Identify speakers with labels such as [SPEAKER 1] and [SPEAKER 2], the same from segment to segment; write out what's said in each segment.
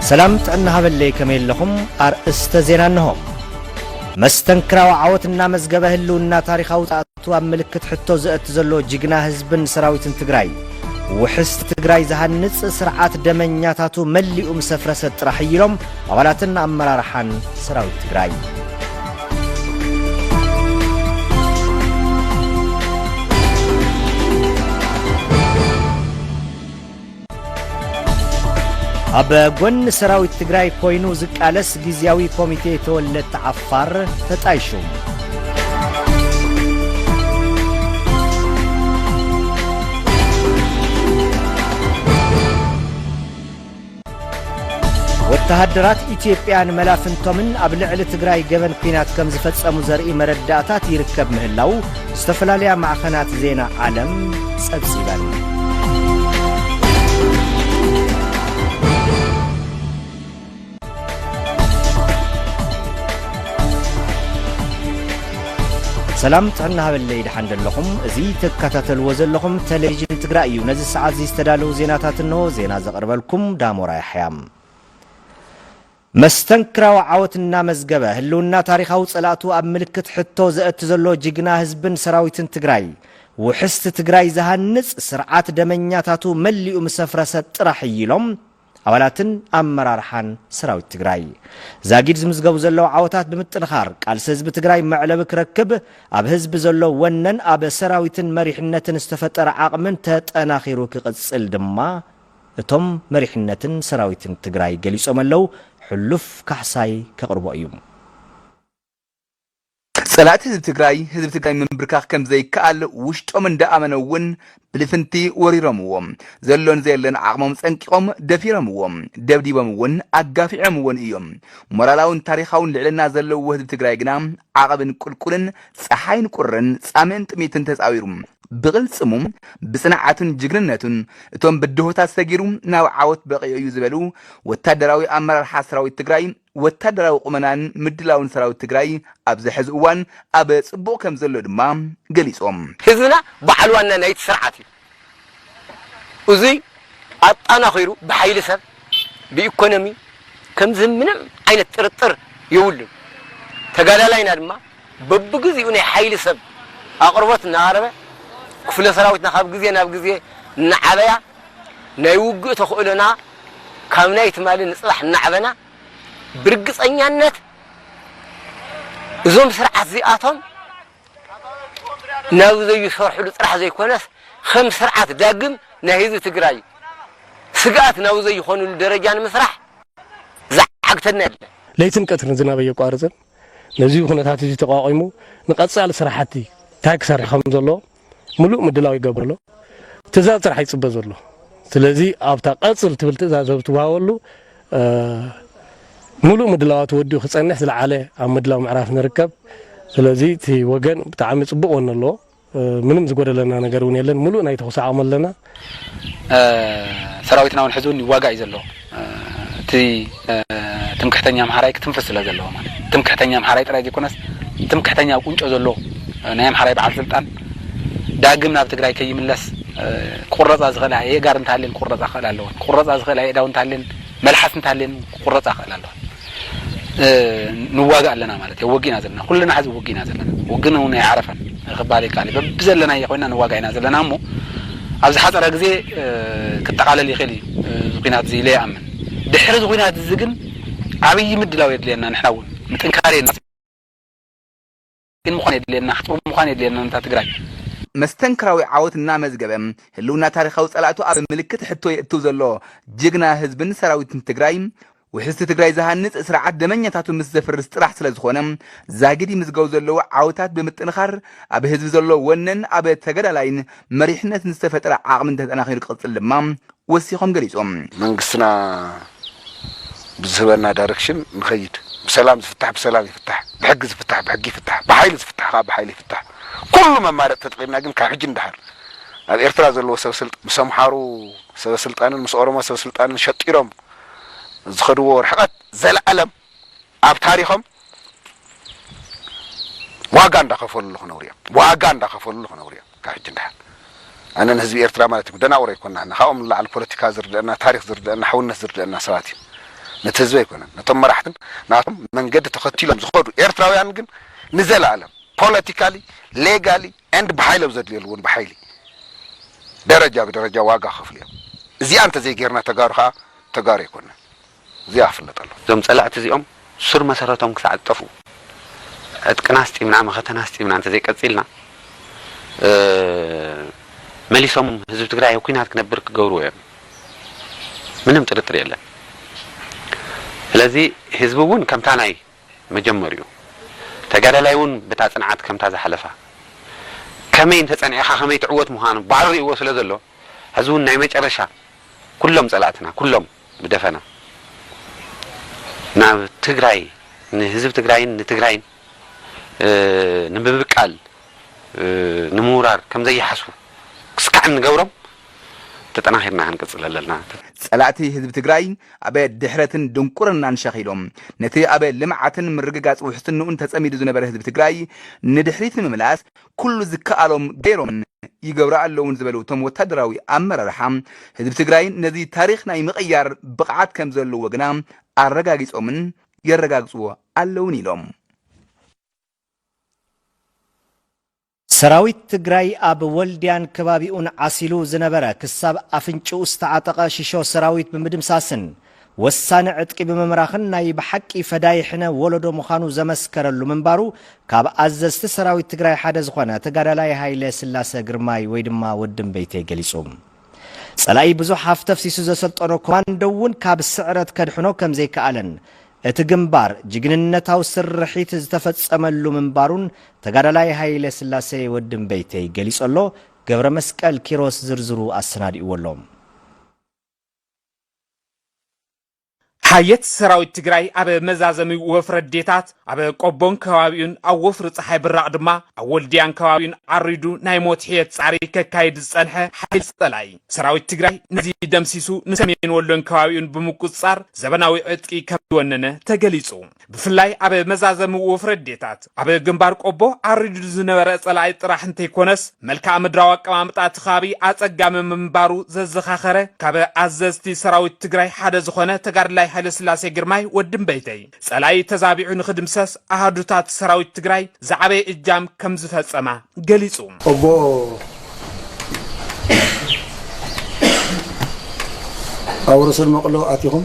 [SPEAKER 1] ሰላም ጥዕና ሃበለይ ከመይ ኣለኹም? ኣርእስተ ዜና እነሆ። መስተንክራዊ ዓወት እናመዝገበ ህልውና ታሪኻዊ ፃእቱ ኣብ ምልክት ሕቶ ዘእቲ ዘሎ ጅግና ህዝብን ሰራዊትን ትግራይ ውሕስ ትግራይ ዝሃንፅ ስርዓት ደመኛታቱ መሊኡ ምስ ኣፍረሰ ጥራሕ እዩ ኢሎም ኣባላትን ኣመራርሓን ሰራዊት ትግራይ ኣብ ጎኒ ሰራዊት ትግራይ ኮይኑ ዝቃለስ ግዜያዊ ኮሚቴ ተወለድቲ ዓፋር ተጣይሹ። ወተሃደራት ኢትዮጵያ ንመላፍንቶምን ኣብ ልዕሊ ትግራይ ገበን ኲናት ከም ዝፈጸሙ ዘርኢ መረዳእታት ይርከብ ምህላው ዝተፈላለያ ማዕኸናት ዜና ዓለም ጸብጺበን። ሰላም ጥዕና ሃበለይ ደሓን ደለኹም እዚ ትከታተልዎ ዘለኹም ቴሌቪዥን ትግራይ እዩ ነዚ ሰዓት እዚ ዝተዳለዉ ዜናታት እንሆ ዜና ዘቕርበልኩም ዳሞራ ያሕያ መስተንክራዊ ዓወት እናመዝገበ ህልውና ታሪኻዊ ጸላእቱ ኣብ ምልክት ሕቶ ዘእቲ ዘሎ ጅግና ህዝብን ሰራዊትን ትግራይ ውሕስቲ ትግራይ ዝሃንጽ ስርዓት ደመኛታቱ መሊኡ ምስ ኣፍረሰ ጥራሕ እዩ ኢሎም ኣባላትን ኣመራርሓን ሰራዊት ትግራይ ዛጊድ ዝምዝገቡ ዘለዉ ዓወታት ብምጥንኻር ቃልሲ ህዝቢ ትግራይ መዕለቢ ክረክብ ኣብ ህዝቢ ዘሎ ወነን ኣብ ሰራዊትን መሪሕነትን ዝተፈጠረ ዓቕምን ተጠናኺሩ ክቕፅል ድማ እቶም መሪሕነትን ሰራዊትን ትግራይ ገሊፆም ኣለዉ። ሕሉፍ ካሕሳይ ከቕርቦ እዩ።
[SPEAKER 2] ፀላእቲ ህዝቢ ትግራይ ህዝቢ ትግራይ ምምብርካኽ ከምዘይከኣል ውሽጦም እንዳኣመነ እውን ብልፍንቲ ወሪሮምዎ። ዘሎን ዘየለን ዓቕሞም ፀንቂቖም ደፊሮምዎ። ደብዲቦም እውን ኣጋፊዖምዎን እዮም። ሞራላውን ታሪኻውን ልዕልና ዘለዎ ህዝቢ ትግራይ ግና ዓቐብን ቁልቁልን፣ ፀሓይን ቁርን፣ ፃምእን ጥምየትን ተፃዊሩ፣ ብቕልፅሙ፣ ብፅንዓቱን ጅግንነቱን እቶም ብድሆታት ሰጊሩ ናብ ዓወት በቒዑ እዩ ዝበሉ ወታደራዊ ኣመራርሓ ሰራዊት ትግራይ ወታደራዊ ቁመናን ምድላውን ሰራዊት ትግራይ ኣብዚ ሕዚ እዋን ኣብ ፅቡቕ ከምዘሎ ድማ ገሊፆም። ህዝብና
[SPEAKER 3] በዓል ዋና ናይቲ ስርዓት እዩ። እዙይ ኣጣናኺሩ ብሓይሊ ሰብ፣ ብኢኮኖሚ ከምዝህብ ምንም ዓይነት ጥርጥር የብሉን። ተጋዳላይና ድማ በብግዚኡ ናይ ሓይሊ ሰብ ኣቕርቦት እናቐረበ ክፍለ ሰራዊትና ካብ ግዜ ናብ ግዜ እናዓበያ፣ ናይ ውግእ ተኽእሎና ካብ ናይ ትማሊ ንፅባሕ እናዕበና ብርግፀኛነት እዞም ስርዓት እዚኣቶም ናብ ዘይሰርሕሉ ጥራሕ ዘይኮነስ ከም ስርዓት ዳግም ናይ ህዝቢ ትግራይ ስግኣት ናብ ዘይኾንሉ ደረጃ ንምስራሕ ዝዓግተና የለን። ለይትን
[SPEAKER 4] ቀትርን ዝናብ ኣየቋርፅን ነዚ ኩነታት እዚ ተቋቒሙ ንቐፃሊ ስራሕቲ እንታይ ክሰርሕ ከምዘለዎ ምሉእ ምድላው ይገብር ኣሎ ትእዛዝ ጥራሕ ይጽበ ዘሎ ስለዚ ኣብታ ቀጽል ትብል ትእዛዝ ኣብ ትወሃበሉ ምሉእ ምድላዋት ወዲኡ ክጸንሕ ዝለዓለ ኣብ ምድላው ምዕራፍ ንርከብ ስለዚ እቲ ወገን ብጣዕሚ ጽቡቕ ወኒ ኣለዎ ምንም ዝጎደለና ነገር እውን የለን ምሉእ ናይ ተኹሲ ዓቕሚ ኣለና
[SPEAKER 5] ሰራዊትና ውን ሕዚ ውን ይዋጋእ እዩ ዘሎ እቲ ትምክሕተኛ ኣምሓራይ ክትንፍስ ስለ ዘለዎ ማለት ትምክሕተኛ ኣምሓራይ ጥራይ ዘይኮነስ ትምክሕተኛ ኣብ ቁንጮ ዘሎ ናይ ኣምሓራይ በዓል ስልጣን ዳግም ናብ ትግራይ ከይምለስ ክቁረፃ ዝኽእል ኣየእጋር እንተሃልየን ክቁረፃ ክኽእል ኣለወን ክቁረፃ ዝኽእል ኣየእዳው እንተሃልየን መልሓስ እንተሃልየን ክቁረፃ ክኽእል ኣለወን ንዋጋእ ኣለና ማለት እዮ ወጊእና ዘለና ኩልና ሐዚ ውግእና ዘለና ውግን እውን ኣይዓረፈን ክባሃል ይከኣል እዩ በብዘለናዮ ኮይና ንዋጋእ ኢና ዘለና እሞ ኣብ ዝሓፀረ ግዜ ክጠቓለል ይኽእል እዩ እዚ ኩናት እዚ ኢለ ይኣምን ድሕሪ እዚ ኩናት እዚ ግን ዓብዪ ምድላው የድልየና ንሕና እውን ምጥንካር ግን ምዃን የድልየና ሓጥሩ ምዃን የድልየና ንታ ትግራይ። መስተንክራዊ
[SPEAKER 2] ዓወት እናመዝገበ ህልውና ታሪኻዊ ፀላእቱ ኣብ ምልክት ሕቶ የእትው ዘሎ ጅግና ህዝብን ሰራዊትን ትግራይ ውሕስቲ ትግራይ ዝሃንፅ ስርዓት ደመኛታቱ ምስ ዘፍርስ ጥራሕ ስለዝኾነ ዛጊድ ይምዝገቡ ዘለዉ ዓወታት ብምጥንኻር ኣብ ህዝቢ ዘሎ ወነን ኣብ ተገዳላይን መሪሕነትን ዝተፈጠረ ዓቕምን ተጠናኺሩ ክቕፅል ድማ ወሲኾም ገሊፆም። መንግስትና
[SPEAKER 6] ብዝህበና ዳይረክሽን ንኸይድ። ብሰላም ዝፍታሕ ብሰላም ይፍታሕ፣ ብሕጊ ዝፍታሕ ብሕጊ ይፍታሕ፣ ብሓይሊ ዝፍታሕ ከዓ ብሓይሊ ይፍታሕ። ኩሉ መማረፂ ተጠቒምና ግን ካብ ሕጂ ንደሓር ኣብ ኤርትራ ዘለዎ ሰበ ስልጣን ምስ ኣምሓሩ ሰበ ስልጣንን ምስ ኦሮሞ ሰበ ስልጣንን ሸጢሮም ዝኸድዎ ርሕቐት ዘለኣለም ኣብ ታሪኾም ዋጋ እንዳኸፈልሉ ክነብሩ እዮም። ዋጋ እንዳኸፈልሉ ክነብሩ እዮም። ካብ ሕጂ ንደሓር ኣነ ንህዝቢ ኤርትራ ማለት እዩም ደናቑር ኣይኮናን እና ካብኦም ንላዕሊ ፖለቲካ ዝርደኣና ታሪኽ ዝርደኣና ሕውነት ዝርደኣና ሰባት እዩም ነቲ ህዝቢ ኣይኮነን ነቶም መራሕትን ናቶም መንገዲ ተኸቲሎም ዝኸዱ ኤርትራውያን ግን ንዘላኣለም ፖለቲካሊ ሌጋሊ and ብሓይሊ ኣብ ዘድልየሉ እውን ብሓይሊ ደረጃ ብደረጃ ዋጋ ክኸፍሉ እዮም እዚኣ እንተዘይጌርና ተጋሩ ከኣ ተጋሩ ኣይኮናን እዚኣ ክፍለጥ ኣለዎ። እዞም ጸላእቲ እዚኦም
[SPEAKER 7] ሱር መሰረቶም ክሳዕ ዝጠፍኡ ዕጥቅና ኣስጢምና መኸተና ኣስጢምና እንተዘይቀጺልና መሊሶም ህዝቢ ትግራይ ኣብ ኩናት ክነብር ክገብርዎ እዮም ምንም ጥርጥር የለን ስለዚ ህዝቢ እውን ከምታ ናይ መጀመሪኡ ተጋዳላይ እውን በታ ጽንዓት ከምታ ዝሓለፋ ከመይ እንተጸኒዕኻ ከመይ ትዕወት ምዃኑ ባዕሉ ርእይዎ ስለ ዘሎ ሕዚ እውን ናይ መጨረሻ ኩሎም ጸላእትና ኩሎም ብደፈና ናብ ትግራይ ንህዝቢ ትግራይን ንትግራይን ንምብቃል ንምውራር ከም ዘይሓስቡ ክስካዕ እንገብሮም ተጠናኺርና ክንቅፅል ኣለና። ፀላእቲ ህዝቢ
[SPEAKER 2] ትግራይ ኣብ ድሕረትን ድንቁርናን ሸኺሎም ነቲ ኣብ ልምዓትን ምርግጋፅ ውሕስንኡን ተፀሚዱ ዝነበረ ህዝቢ ትግራይ ንድሕሪት ንምምላስ ኩሉ ዝከኣሎም ገይሮምን ይገብሩ ኣለውን ዝበሉ እቶም ወታደራዊ ኣመራርሓ፣ ህዝቢ ትግራይ ነዚ ታሪኽ ናይ ምቕያር ብቕዓት ከምዘለዎ ግና ኣረጋጊፆምን የረጋግፅዎ ኣለውን ኢሎም።
[SPEAKER 1] ሰራዊት ትግራይ ኣብ ወልድያን ከባቢኡን ዓሲሉ ዝነበረ ክሳብ ኣፍንጭኡ ዝተዓጠቐ ሽሾ ሰራዊት ብምድምሳስን ወሳኒ ዕጥቂ ብምምራኽን ናይ ብሓቂ ፈዳይ ሕነ ወለዶ ምዃኑ ዘመስከረሉ ምንባሩ ካብ ኣዘዝቲ ሰራዊት ትግራይ ሓደ ዝኾነ ተጋዳላይ ሃይለ ስላሰ ግርማይ ወይ ድማ ወዲ እምበይተይ ገሊፁ። ፀላኢ ብዙሕ ሃፍቲ ኣፍሲሱ ዘሰልጠኖ ኮማንዶ እውን ካብ ስዕረት ከድሕኖ ከምዘይከኣለን እቲ ግንባር ጅግንነታዊ ስርሒት ዝተፈፀመሉ ምንባሩን ተጋዳላይ ሃይለ ስላሰ ወዲ እምበይተይ ገሊፁ ኣሎ። ገብረመስቀል ኪሮስ ዝርዝሩ ኣሰናዲእዎ ኣሎ።
[SPEAKER 8] ሓየት ሰራዊት ትግራይ ኣብ መዛዘሚ ወፍሪ ኣዴታት ኣብ ቆቦን ከባቢኡን ኣብ ወፍሪ ፀሓይ ብራቕ ድማ ኣብ ወልድያን ከባቢኡን ዓሪዱ ናይ ሞት ሕየት ፃዕሪ ከካይድ ዝፀንሐ ሓይሊ ፀላኢ ሰራዊት ትግራይ ነዚ ደምሲሱ ንሰሜን ወሎን ከባቢኡን ብምቁፅፃር ዘበናዊ ዕጥቂ ከም ዝወነነ ተገሊፁ። ብፍላይ ኣብ መዛዘሚ ወፍረ ዴታት ኣብ ግንባር ቆቦ ኣሪዱ ዝነበረ ጸላኢ ጥራሕ እንተይኮነስ መልክኣ ምድራዊ ኣቀማምጣ እቲ ከባቢ ኣጸጋሚ ምንባሩ ዘዘኻኸረ ካብ ኣዘዝቲ ሰራዊት ትግራይ ሓደ ዝኾነ ተጋድላይ ሃይለስላሴ ግርማይ ወዲ እምበይተይ ጸላኢ ተዛቢዑ ንኽድምሰስ ኣሃዱታት ሰራዊት ትግራይ ዝዓበየ እጃም ከምዝፈጸማ ገሊጹ። ኦቦ
[SPEAKER 9] ኣብ ርሱን መቕሎ ኣቲኹም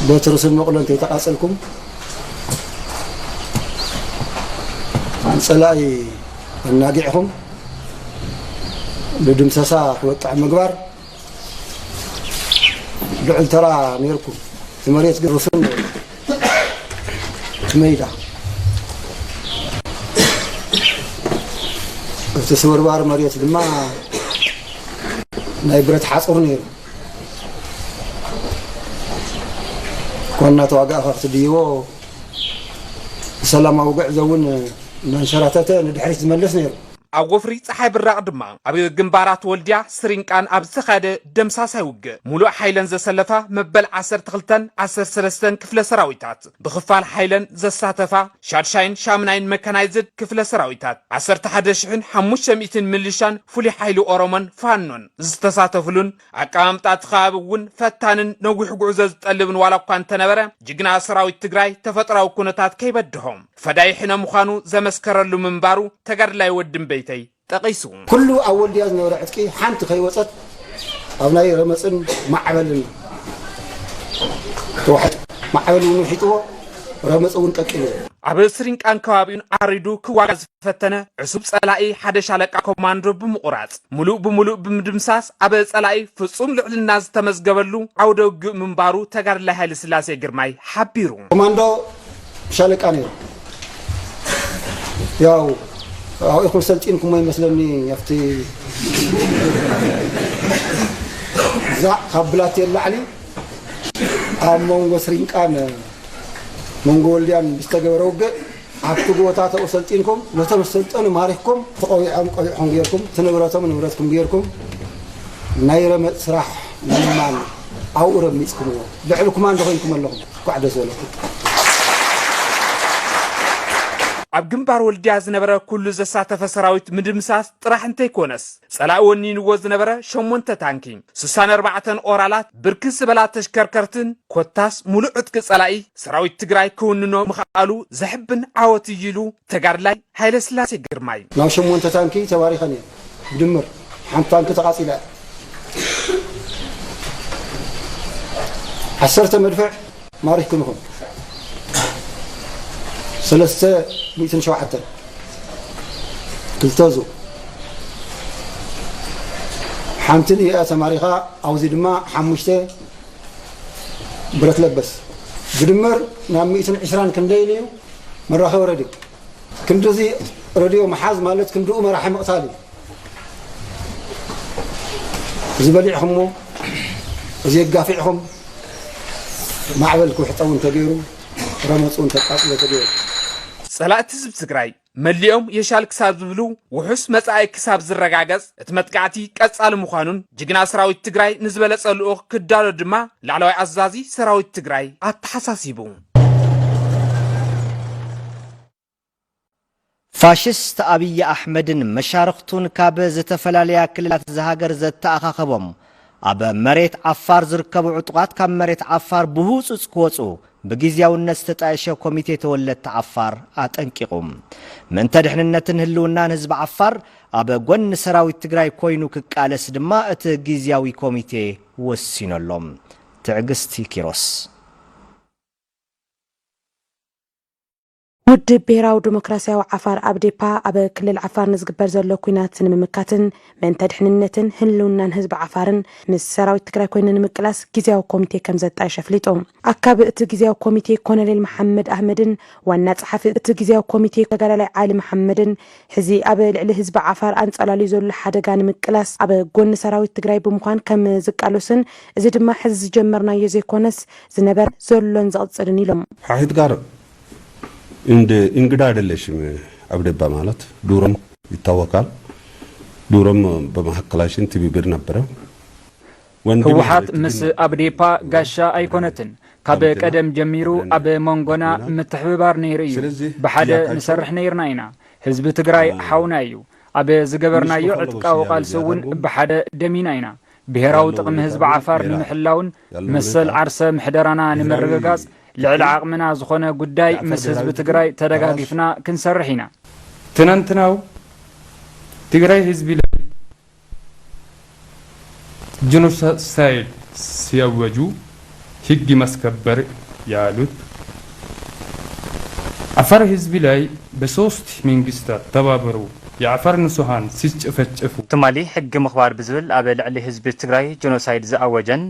[SPEAKER 9] ቦቲ ርሱን መቕሎ እንተይተቓጽልኩም ንጸላኢ ኣናጊዕኹም ንድምሰሳ ክበቅዕ ምግባር ልዑል ተራ ነይርኩም እቲ መሬት ግን ርሱን ነይሩ እቲ መይዳ እቲ ስብርባር መሬት ድማ ናይ ብረት ሓፁር ነይሩ ዋና ተዋጋእኻ ክትድይቦ ሰላማዊ ጉዕዞ እውን እናንሸራተተ ንድሕሪት ዝመልስ ነይሩ ኣብ ወፍሪ ጸሓይ
[SPEAKER 8] ብራቕ ድማ ኣብ ግንባራት ወልድያ ስሪንቃን ኣብ ዝተኻየደ ደምሳሳይ ውግእ ሙሉእ ሓይለን ዘሰለፋ መበል ዓሰርተ ክልተን ዓሰርተ ሰለስተን ክፍለ ሰራዊታት ብኽፋል ሓይለን ዘሳተፋ ሻድሻይን ሻምናይን መካናይዝድ ክፍለ ሰራዊታት ዓሰርተ ሓደ ሽሕን ሓሙሽተ ሚእትን ምልሻን ፍሉይ ሓይሊ ኦሮሞን ፋኖን ዝተሳተፍሉን ኣቀማምጣ እቲ ከባቢ እውን ፈታንን ነዊሕ ጉዕዞ ዝጠልብን ዋላ እኳ እንተነበረ ጅግና ሰራዊት ትግራይ ተፈጥራዊ ኩነታት ከይበድሆ ፈዳይ ሕነ ምዃኑ ዘመስከረሉ ምንባሩ ተጋድላይ ወዲ እምበይተይ ጠቒሱ። ኩሉ ኣብ ወልድያ
[SPEAKER 9] ዝነበረ ዕጥቂ ሓንቲ ከይወፀት ኣብ ናይ ረመፅን ማዕበልን ተዋሒጡ። ማዕበል እውን ውሒጥዎ፣ ረመፅ እውን ቀቂልዎ። ኣብ ስሪንቃን
[SPEAKER 8] ከባቢኡን ዓሪዱ ክዋጋእ ፈተነ ዕሱብ ጸላኢ ሓደ ሻለቃ ኮማንዶ ብምቑራጽ ሙሉእ ብሙሉእ ብምድምሳስ ኣብ ጸላኢ ፍጹም ልዕልና ዝተመዝገበሉ ዓውደ ውግእ ምንባሩ ተጋድላይ ሃይለ ስላሴ ግርማይ ሓቢሩ። ኮማንዶ
[SPEAKER 9] ሻለቃ ነይሩ ያው ኣብኡ ኢኹም ሰልጢንኩሞ ይመስለኒ ኣብቲ ዛዕ ካብ ብላቴን ላዕሊ ኣብ መንጎ ስሪንቃን መንጎ ወልድያን ዝተገበረ ውግእ ኣብቲ ቦታ ተኡ ሰልጢንኩም ነቶም ዝሰልጠኑ ማሪኽኩም ትቆቢዖም ቆቢዕኹም ገይርኩም እቲ ንብረቶም ንብረትኩም ገይርኩም ናይ ረመጽ ስራሕ ምልማን ኣብኡ ረሚጽኩምዎ ልዕሊ ኩማንዶ ኮይንኩም ኣለኹም እንኳዕ ደስ በለኩም።
[SPEAKER 8] ኣብ ግንባር ወልድያ ዝነበረ ኩሉ ዘሳተፈ ሰራዊት ምድምሳስ ጥራሕ እንተይኮነስ ጸላኢ ወኒንዎ ዝነበረ ሸሞንተ ታንኪ፣ ስሳን ኣርባዕተን ኦራላት፣ ብርክት ዝበላ ተሽከርከርትን ኮታስ ሙሉእ ዕጥቂ ጸላኢ ሰራዊት ትግራይ ክውንኖ ምኽኣሉ ዘሕብን ዓወት እዩ ኢሉ ተጋድላይ ሃይለስላሴ ግርማይ። ናብ ሸሞንተ ታንኪ
[SPEAKER 9] ተባሪኸን እየን። ብድምር ሓንቲ ታንኪ ተቓፂላ እያ። ዓሰርተ መድፍዕ ማሪኽኩም ኢኹም ሰለስተ ሚእትን ሸውዓተን ክልተዙ ሓንቲ ንኢኣ ተማሪኻ ኣብዚ ድማ ሓሙሽተ ብረት ለበስ ብድመር ናብ ሚእትን ዕስራን ክንደይን እዩ መራኸቢ ረድዮ ክንዲዚ ረድዮ መሓዝ ማለት ክንድኡ መራሒ ምቕታል እዩ እዚ በሊዕኹሞ እዚ ኣጋፊዕኹም ማዕበል ክውሕጠ እውን ተገይሩ ረመፁ እውን ተቃፅሎ ተገይሩ ጸላእቲ
[SPEAKER 8] ህዝቢ ትግራይ መሊኦም የሻል ክሳብ ዝብሉ ውሑስ መጻኢ ክሳብ ዝረጋገጽ እቲ መጥቃዕቲ ቀጻሊ ምዃኑን ጅግና ሰራዊት ትግራይ ንዝበለጸ ልኡኽ ክዳሎ ድማ ላዕለዋይ ኣዛዚ ሰራዊት ትግራይ ኣተሓሳሲቡ።
[SPEAKER 1] ፋሽስት ኣብይ ኣሕመድን መሻርኽቱን ካብ ዝተፈላለያ ክልላት እዛ ሃገር ዘተኣኻኸቦም ኣብ መሬት ዓፋር ዝርከቡ ዕጡቓት ካብ መሬት ዓፋር ብህውፁፅ ክወፁ ብጊዚያውነት ዝተጣየሸ ኮሚቴ ተወለድቲ ዓፋር ኣጠንቂቑ። ምእንተ ድሕንነትን ህልውናን ህዝቢ ዓፋር ኣብ ጎኒ ሰራዊት ትግራይ ኮይኑ ክቃለስ ድማ እቲ ጊዚያዊ ኮሚቴ ወሲኑ ኣሎ። ትዕግስቲ ኪሮስ።
[SPEAKER 10] ውድብ ብሄራዊ ደሞክራሲያዊ ዓፋር፣ ኣብዴፓ፣ ኣብ ክልል ዓፋር ንዝግበር ዘሎ ኲናት ንምምካትን ምእንተ ድሕንነትን ህልውናን ህዝቢ ዓፋርን ምስ ሰራዊት ትግራይ ኮይኑ ንምቅላስ ጊዚያዊ ኮሚቴ ከምዘጣየሸ ኣፍሊጡ። ኣካቢ እቲ ጊዚያዊ ኮሚቴ ኮሎኔል መሓመድ ኣህመድን ዋና ፀሓፊ እቲ ጊዚያዊ ኮሚቴ ተጋዳላይ ዓሊ መሓመድን ሕዚ ኣብ ልዕሊ ህዝቢ ዓፋር ኣንፃላልዩ ዘሎ ሓደጋ ንምቅላስ ኣብ ጎኒ ሰራዊት ትግራይ ብምዃን ከምዝቃለሱን እዚ ድማ ሕዚ ዝጀመርናዮ ዘይኮነስ ዝነበረ፣ ዘሎን ዝቕፅልን ኢሎም። ሓሒትጋር
[SPEAKER 11] እንደ እንግዳ አይደለሽም አብደባ ማለት ዱሮም ይታወቃል ዱሮም በመሀከላሽን ትብብር ነበረ
[SPEAKER 12] ወንድም ህወሓት ማለት ግን ምስ ነበረ ኣብዴፓ እና ጋሻ ወንድም ኣይኮነትን። ካብ ከምትና ቀደም ጀሚሩ ብለን ኣብ መንጎና ኢና ምትሕብባር ነይሩ እዩ። ስለዚህ ብሓደ ጥያቃቸው ንሰርሕ ነይርና ኢና። ህዝቢ ትግራይ ሓውና እዩ። ኣብ ምስ ዝገበርናዮ በከሎ ዕጥቃዊ ወሲያ ቃልሲ እውን ዝያዳልዎም ብሓደ ደሚና ኢና። ብሄራዊ ጥቕሚ ህዝቢ ዓፋር ንምሕላውን መሰል ዓርሰ ምሕደራና ንምርግጋፅ ልዕሊ ዓቕምና ዝኾነ ጉዳይ ምስ ህዝቢ ትግራይ ተደጋጊፍና ክንሰርሕ ኢና። ትናንትናው
[SPEAKER 13] ትግራይ ህዝቢ ላይ ጀኖሳይድ ሲያወጁ ህግ ማስከበር ያሉት አፋር ህዝብ ላይ በሶስት መንግስታት ተባብረው የአፋር ንሱሃን ሲስጨፈጨፉ። ትማሊ ሕጊ
[SPEAKER 14] ምኽባር ብዝብል ኣብ ልዕሊ ህዝቢ ትግራይ ጆኖሳይድ ዝኣወጀን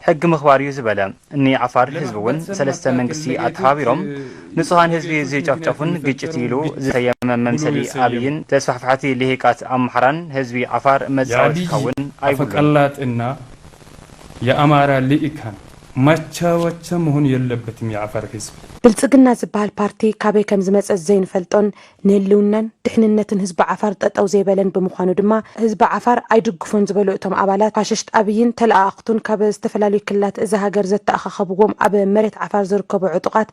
[SPEAKER 14] ሕጊ ምኽባር እዩ ዝበለ ን ዓፋር ህዝቢ እውን ሰለስተ መንግስቲ ኣተሓባቢሮም ንፁሃን ህዝቢ ዝጨፍጨፉን ግጭት ኢሉ ዝሰየመ መምሰሊ ኣብይን ተስፋሕፋሕቲ ሊሂቃት ኣምሓራን ህዝቢ ዓፋር መፃወቲ ክኸውን ኣይብሉን።
[SPEAKER 13] የኣማራ ሊኢካን ማቻወቸ መሆን የለበትም የዓፋር ህዝብ። ብልፅግና ዝበሃል
[SPEAKER 10] ፓርቲ ካበይ ከምዝመፀ ዘይንፈልጦን ንህልውናን ድሕንነትን ህዝቢ ዓፋር ጠጠው ዘይበለን ብምዃኑ ድማ ህዝቢ ዓፋር ኣይድግፎን ዝበሉ እቶም ኣባላት ፋሽስት ኣብይን ተለኣኣኽቱን ካብ ዝተፈላለዩ ክልላት እዛ ሃገር ዘተኣኻኸብዎም ኣብ መሬት ዓፋር ዝርከቡ ዕጡቓት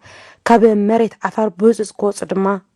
[SPEAKER 10] ካብ መሬት ዓፋር ብህፁፅ ክወፁ ድማ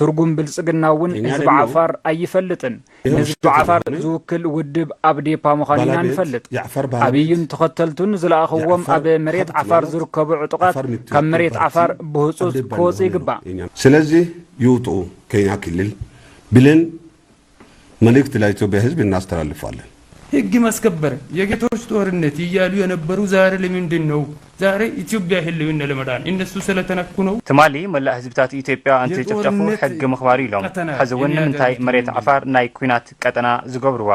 [SPEAKER 12] ትርጉም ብልፅግና እውን ህዝቢ ዓፋር ኣይፈልጥን። ንህዝቢ ዓፋር ዝውክል ውድብ ኣብዴፓ ምዃኑ ኢና ንፈልጥ። ኣብይን ተኸተልቱን ዝለኣኽዎም ኣብ መሬት ዓፋር ዝርከቡ ዕጡቓት ካብ መሬት ዓፋር ብህፁፅ ክወፁ ይግባእ። ስለዚ
[SPEAKER 11] ይውጥኡ ከኛ ክልል ብልን መልእክት ለኢትዮጵያ ህዝብ እናስተላልፋለን። ህግ
[SPEAKER 13] ማስከበር የጌቶች ጦርነት እያሉ የነበሩ ዛሬ ለምንድን ነው ዛሬ ኢትዮጵያ ህልውና ለመዳን እነሱ ስለተነኩ ነው? ትማሊ መላእ ህዝብታት
[SPEAKER 14] ኢትዮጵያ እንትጭፍጨፉ ሕጊ ምኽባር'ዩ ኢሎም ሐዚ ውን ንምንታይ መሬት ዓፋር ናይ ኩናት ቀጠና ዝገብርዋ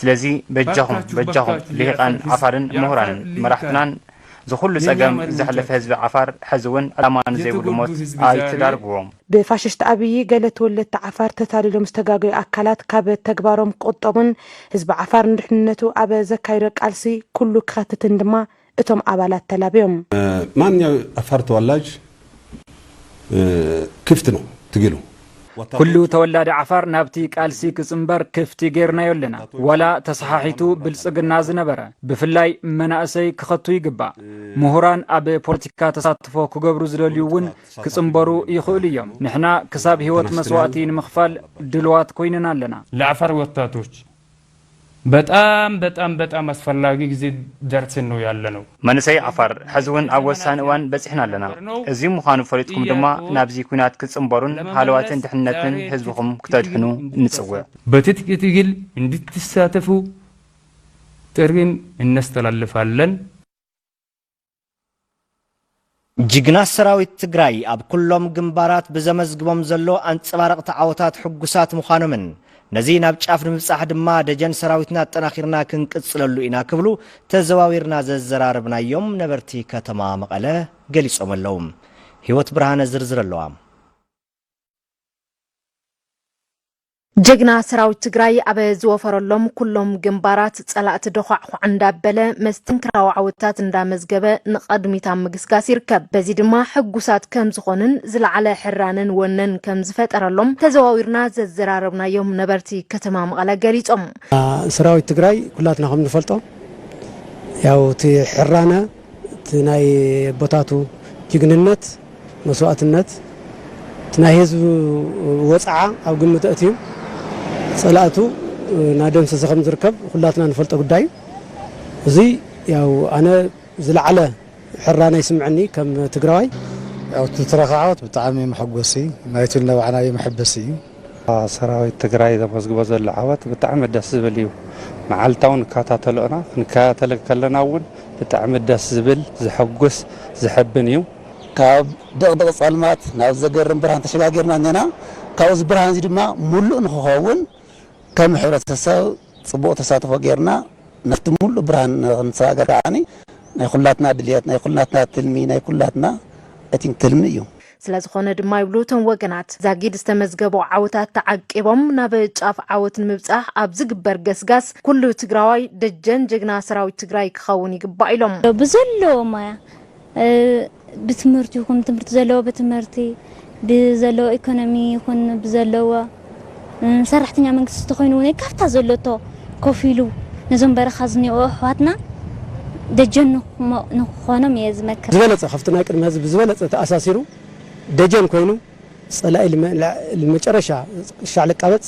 [SPEAKER 14] ስለዚ በጃኹም በጃኹም ሊሂቃን ዓፋርን ሙሁራንን መራሕትናን ዝኹሉ ጸገም ዘሕለፈ ህዝቢ ዓፋር ሐዚ ውን ዕላማ ንዘይብሉ ሞት ኣይትዳርግዎ። ብፋሽስት
[SPEAKER 10] ኣብይ ገለ ተወለድቲ ዓፋር ተታሊሎም ዝተጋገዩ ኣካላት ካብ ተግባሮም ክቁጠቡን ህዝቢ ዓፋር ንድሕንነቱ ኣብ ዘካይዶ ቃልሲ ኩሉ ክኸትትን ድማ እቶም ኣባላት ተላብዮም። ማንኛው
[SPEAKER 11] ዓፋር ተወላጅ ክፍት ነው ትግሉ። ኩሉ
[SPEAKER 12] ተወላዲ ዓፋር ናብቲ ቃልሲ ክጽንበር ክፍቲ ጌርናዮ ኣለና። ዋላ ተሰሓሒቱ ብልጽግና ዝነበረ ብፍላይ መናእሰይ ክኸቱ ይግባእ። ምሁራን ኣብ ፖለቲካ ተሳትፎ ክገብሩ ዝደልዩ እውን ክጽንበሩ ይኽእሉ እዮም። ንሕና ክሳብ ህይወት መስዋእቲ ንምኽፋል ድሉዋት ኮይንና ኣለና። ለዓፋር ወጣቶች
[SPEAKER 13] በጣም በጣም በጣም ኣስፈላጊ ግዜ ደርሲ ነው ያለነው። መንእሰይ ዓፋር
[SPEAKER 14] ሕዚ ውን ኣብ ወሳኒ እዋን በጺሕና ኣለና። እዚ ምዃኑ ፈሊጥኩም ድማ ናብዚ ኲናት ክትጽንበሩን ሃለዋትን ድሕንነትን ህዝብኹም ክተድሕኑ ንጽውዕ። በትጥቂ ትግል
[SPEAKER 13] እንድትሳተፉ ጥሪ እነስተላልፋለን።
[SPEAKER 1] ጅግና ሰራዊት ትግራይ ኣብ ኩሎም ግንባራት ብዘመዝግቦም ዘሎ ኣንፀባረቕቲ ዓወታት ሕጉሳት ምዃኖምን ነዚ ናብ ጫፍ ንምብፃሕ ድማ ደጀን ሰራዊትና ኣጠናኺርና ክንቅፅለሉ ኢና ክብሉ ተዘዋዊርና ዘዘራረብናዮም ነበርቲ ከተማ መቐለ ገሊፆም ኣለው። ህይወት ብርሃነ ዝርዝር ኣለዋ።
[SPEAKER 15] ጀግና ሰራዊት ትግራይ ኣብ ዝወፈረሎም ኩሎም ግንባራት ፀላእቲ ደዃዕዃዕ እንዳበለ መስተንክራዊ ዓወታት እንዳመዝገበ ንቐድሚት ኣብ ምግስጋስ ይርከብ። በዚ ድማ ሕጉሳት ከምዝኾኑን ዝለዓለ ሕራነን ወነን ከምዝፈጠረሎም ተዘዋዊርና ዘዘራረብናዮም ነበርቲ ከተማ መቐለ ገሊፆም። ሰራዊት
[SPEAKER 16] ትግራይ ኩላትና ከምንፈልጦ ያው እቲ ሕራነ እቲ ናይ ኣቦታቱ ጅግንነት፣ መስዋእትነት፣ እቲ ናይ ህዝቢ ወጽዓ ኣብ ግምት ኣእትዩ ጸላእቱ እናደምሰሰ ከም ዝርከብ ኩላትና ንፈልጦ ጉዳይ እዩ። እዚ ያው ኣነ ዝለዓለ ሕራነ ይስምዐኒ ከም ትግራዋይ። ያው እቲ
[SPEAKER 17] ትረኻ ዓወት ብጣዕሚ መሐጎሲ ናይቲ ዝነባዕናዮ መሐበሲ እዩ። ሰራዊት ትግራይ ዘመዝግቦ ዘሎ ዓወት ብጣዕሚ ደስ ዝብል እዩ መዓልታዊ ንካታተሎ እና ክንካታተል ከለና እውን ብጣዕሚ ደስ ዝብል ዘሐጉስ ዘሐብን እዩ። ካብ
[SPEAKER 18] ድቕድቕ ፀልማት ናብ ዘገርም ብርሃን ተሸጋጊርና እኔና። ካብኡ እዚ ብርሃን እዚ ድማ ሙሉእ ንክኸውን ከም ሕብረተሰብ ፅቡቕ ተሳትፎ ገይርና ናብቲ ሙሉእ ብርሃን ንክንሰጋገር ከዓኒ ናይ ኩላትና ድልየት፣ ናይ ኩላትና ትልሚ፣ ናይ ኩላትና ኣይ ቲንክ ትልሚ እዩ። ስለዝኾነ ድማ
[SPEAKER 15] ይብሉ እቶም ወገናት፣ ዛጊድ ዝተመዝገቡ ዓወታት ተዓቂቦም ናብ ጫፍ ዓወት ንምብፃሕ ኣብ ዝግበር ገስጋስ ኩሉ ትግራዋይ ደጀን ጀግና ሰራዊት ትግራይ ክኸውን ይግባእ ኢሎም። ብዘለዎ ሞያ
[SPEAKER 19] ብትምህርቲ ይኹን ትምህርቲ ዘለዎ ብትምህርቲ ብዘለዎ ኢኮኖሚ ይኹን ብዘለዎ ሰራሕተኛ መንግስቲ ተኾይኑ እውን ካብታ ዘሎቶ ኮፍ ኢሉ ነዞም በረኻ ዝኒኦኡ ኣሕዋትና ደጀን ንክኾኖም እየ ዝመክር። ዝበለፀ ከፍቲ ናይ ቅድሚ ሀዚ
[SPEAKER 16] ብዝበለፀ ተኣሳሲሩ ደጀን ኮይኑ ፀላኢ ልመጨረሻ ክሻዕ ልቃበፅ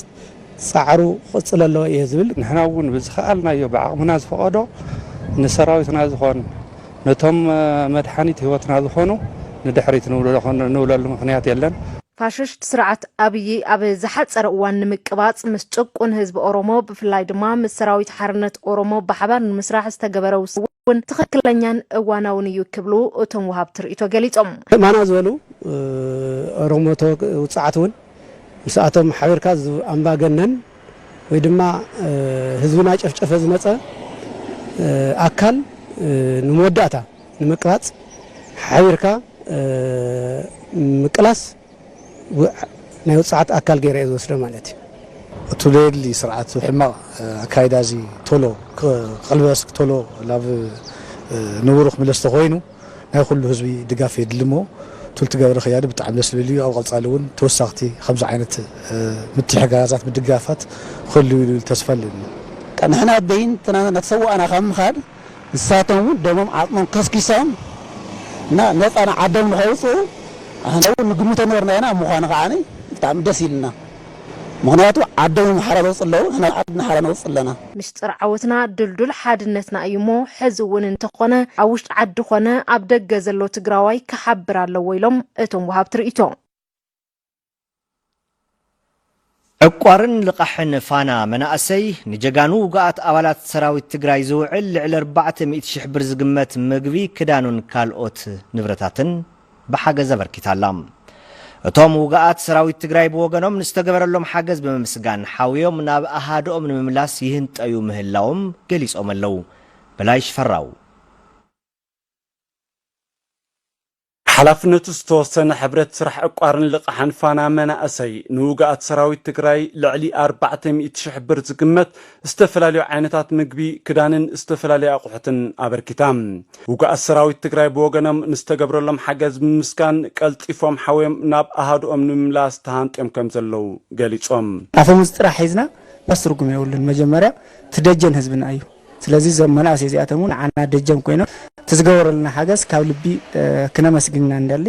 [SPEAKER 16] ፃዕሩ ክቕፅል ኣለዎ እየ ዝብል። ንሕና እውን ብዝኸኣልናዮ
[SPEAKER 20] ብዓቕምና ዝፈቐዶ ንሰራዊትና ዝኾን ነቶም መድሓኒት ህይወትና ዝኾኑ ንድሕሪት ንብለሉ ምኽንያት የለን። ፋሽስት ስርዓት
[SPEAKER 15] ኣብዪ ኣብ ዝሓፀረ እዋን ንምቅባፅ ምስ ጭቁን ህዝቢ ኦሮሞ ብፍላይ ድማ ምስ ሰራዊት ሓርነት ኦሮሞ ብሓባር ንምስራሕ ዝተገበረ ውሳነ እውን ትኽክለኛን እዋናውን እዩ ክብሉ እቶም ወሃብቲ ርኢቶ ገሊፆም። እማና ዝበሉ
[SPEAKER 16] ኦሮሞቶ ውፁዓት እውን ምስኣቶም ሓቢርካ ኣምባገነን ወይ ድማ ህዝቢ ናጨፍጨፈ ዝመፀ ኣካል ንመወዳእታ ንምቅራፅ ሓቢርካ ምቅላስ ናይ ውፅዓት ኣካል ገይረ እየ ዝወስዶ ማለት እዩ። እቱ ዘየድሊ
[SPEAKER 17] ስርዓት ሕማቕ ኣካይዳ እዙይ ቶሎ ክቕልበስ ቶሎ ናብ ንቡሩ ክምለስ ተኾይኑ፣ ናይ ኩሉ ህዝቢ ድጋፍ የድሊሞ ቱልቲ ገብረ ክያዲ ብጣዕሚ ደስ ልብል እዩ ኣብ ቀፃሊ እውን ተወሳክቲ ከምዚ ዓይነት ምትሕጋጋዛት ምድጋፋት ክህልው እዩ ልብል ተስፋ ኣለኒ። ንሕና
[SPEAKER 18] በይንትና እናተሰዋእና ካብ ምኻድ ንሳቶም እውን ደሞም ዓፅሞም ከስኪሶም እና ነፃ ንዓዶም ንከውፅኡ ንሕና እውን ንግምቶ ነበርና ኢና ምዃኑ ከዓ ብጣዕሚ ደስ ኢሉና። ምኽንያቱ ዓዶም ሓራ ዘውጽኡ ኣለዉ፣ ንሕና ዓድና ሓራ ነውጽእ ኣለና። ምስጢር ዓወትና
[SPEAKER 15] ድልዱል ሓድነትና እዩ እሞ ሕዚ እውን እንተኾነ ኣብ ውሽጢ ዓዲ ኮነ ኣብ ደገ ዘሎ ትግራዋይ ክሓብር ኣለዎ ኢሎም እቶም ወሃብቲ ርኢቶ።
[SPEAKER 1] ዕቋርን ልቓሕን ፋና መናእሰይ ንጀጋኑ ውጉኣት ኣባላት ሰራዊት ትግራይ ዝውዕል ልዕሊ ኣርባዕተ ሚእቲ ሽሕ ብር ዝግመት ምግቢ፣ ክዳኑን ካልኦት ንብረታትን፣ ብሓገዝ ኣበርኪታ ኣላ። እቶም ውጉኣት ሰራዊት ትግራይ ብወገኖም ንዝተገበረሎም ሓገዝ ብምምስጋን ሓውዮም ናብ ኣሃድኦም ንምምላስ ይህንጠዩ ምህላዎም ገሊፆም ኣለው። በላይ ሽፈራው።
[SPEAKER 21] ሓላፍነቱ ዝተወሰነ ሕብረት ስራሕ ዕቋርን ልቓሕን ፋና መናእሰይ ንውጉኣት ሰራዊት ትግራይ ልዕሊ ኣርባዕተ ሚእቲ ሽሕ ብር ዝግመት ዝተፈላለዩ ዓይነታት ምግቢ፣ ክዳንን ዝተፈላለዩ ኣቑሑትን ኣበርኪታ። ውጉኣት ሰራዊት ትግራይ ብወገኖም ንዝተገብረሎም ሓገዝ ብምምስጋን ቀልጢፎም ሓውዮም ናብ ኣሃዱኦም ንምምላስ ተሃንጥዮም ከምዘለዉ ገሊፆም። ኣፈሙዝ ጥራሕ
[SPEAKER 22] ሒዝና ዳስ ትርጉም የብሉን መጀመርያ እቲ ደጀን ህዝብና እዩ ስለዚ እዞም መናእሰይ እዚኣቶም እውን ንዓና ደጀን ኮይኖም እቲ ዝገበሩልና ሓገዝ ካብ ልቢ ክነመስግን ኢና ንደሊ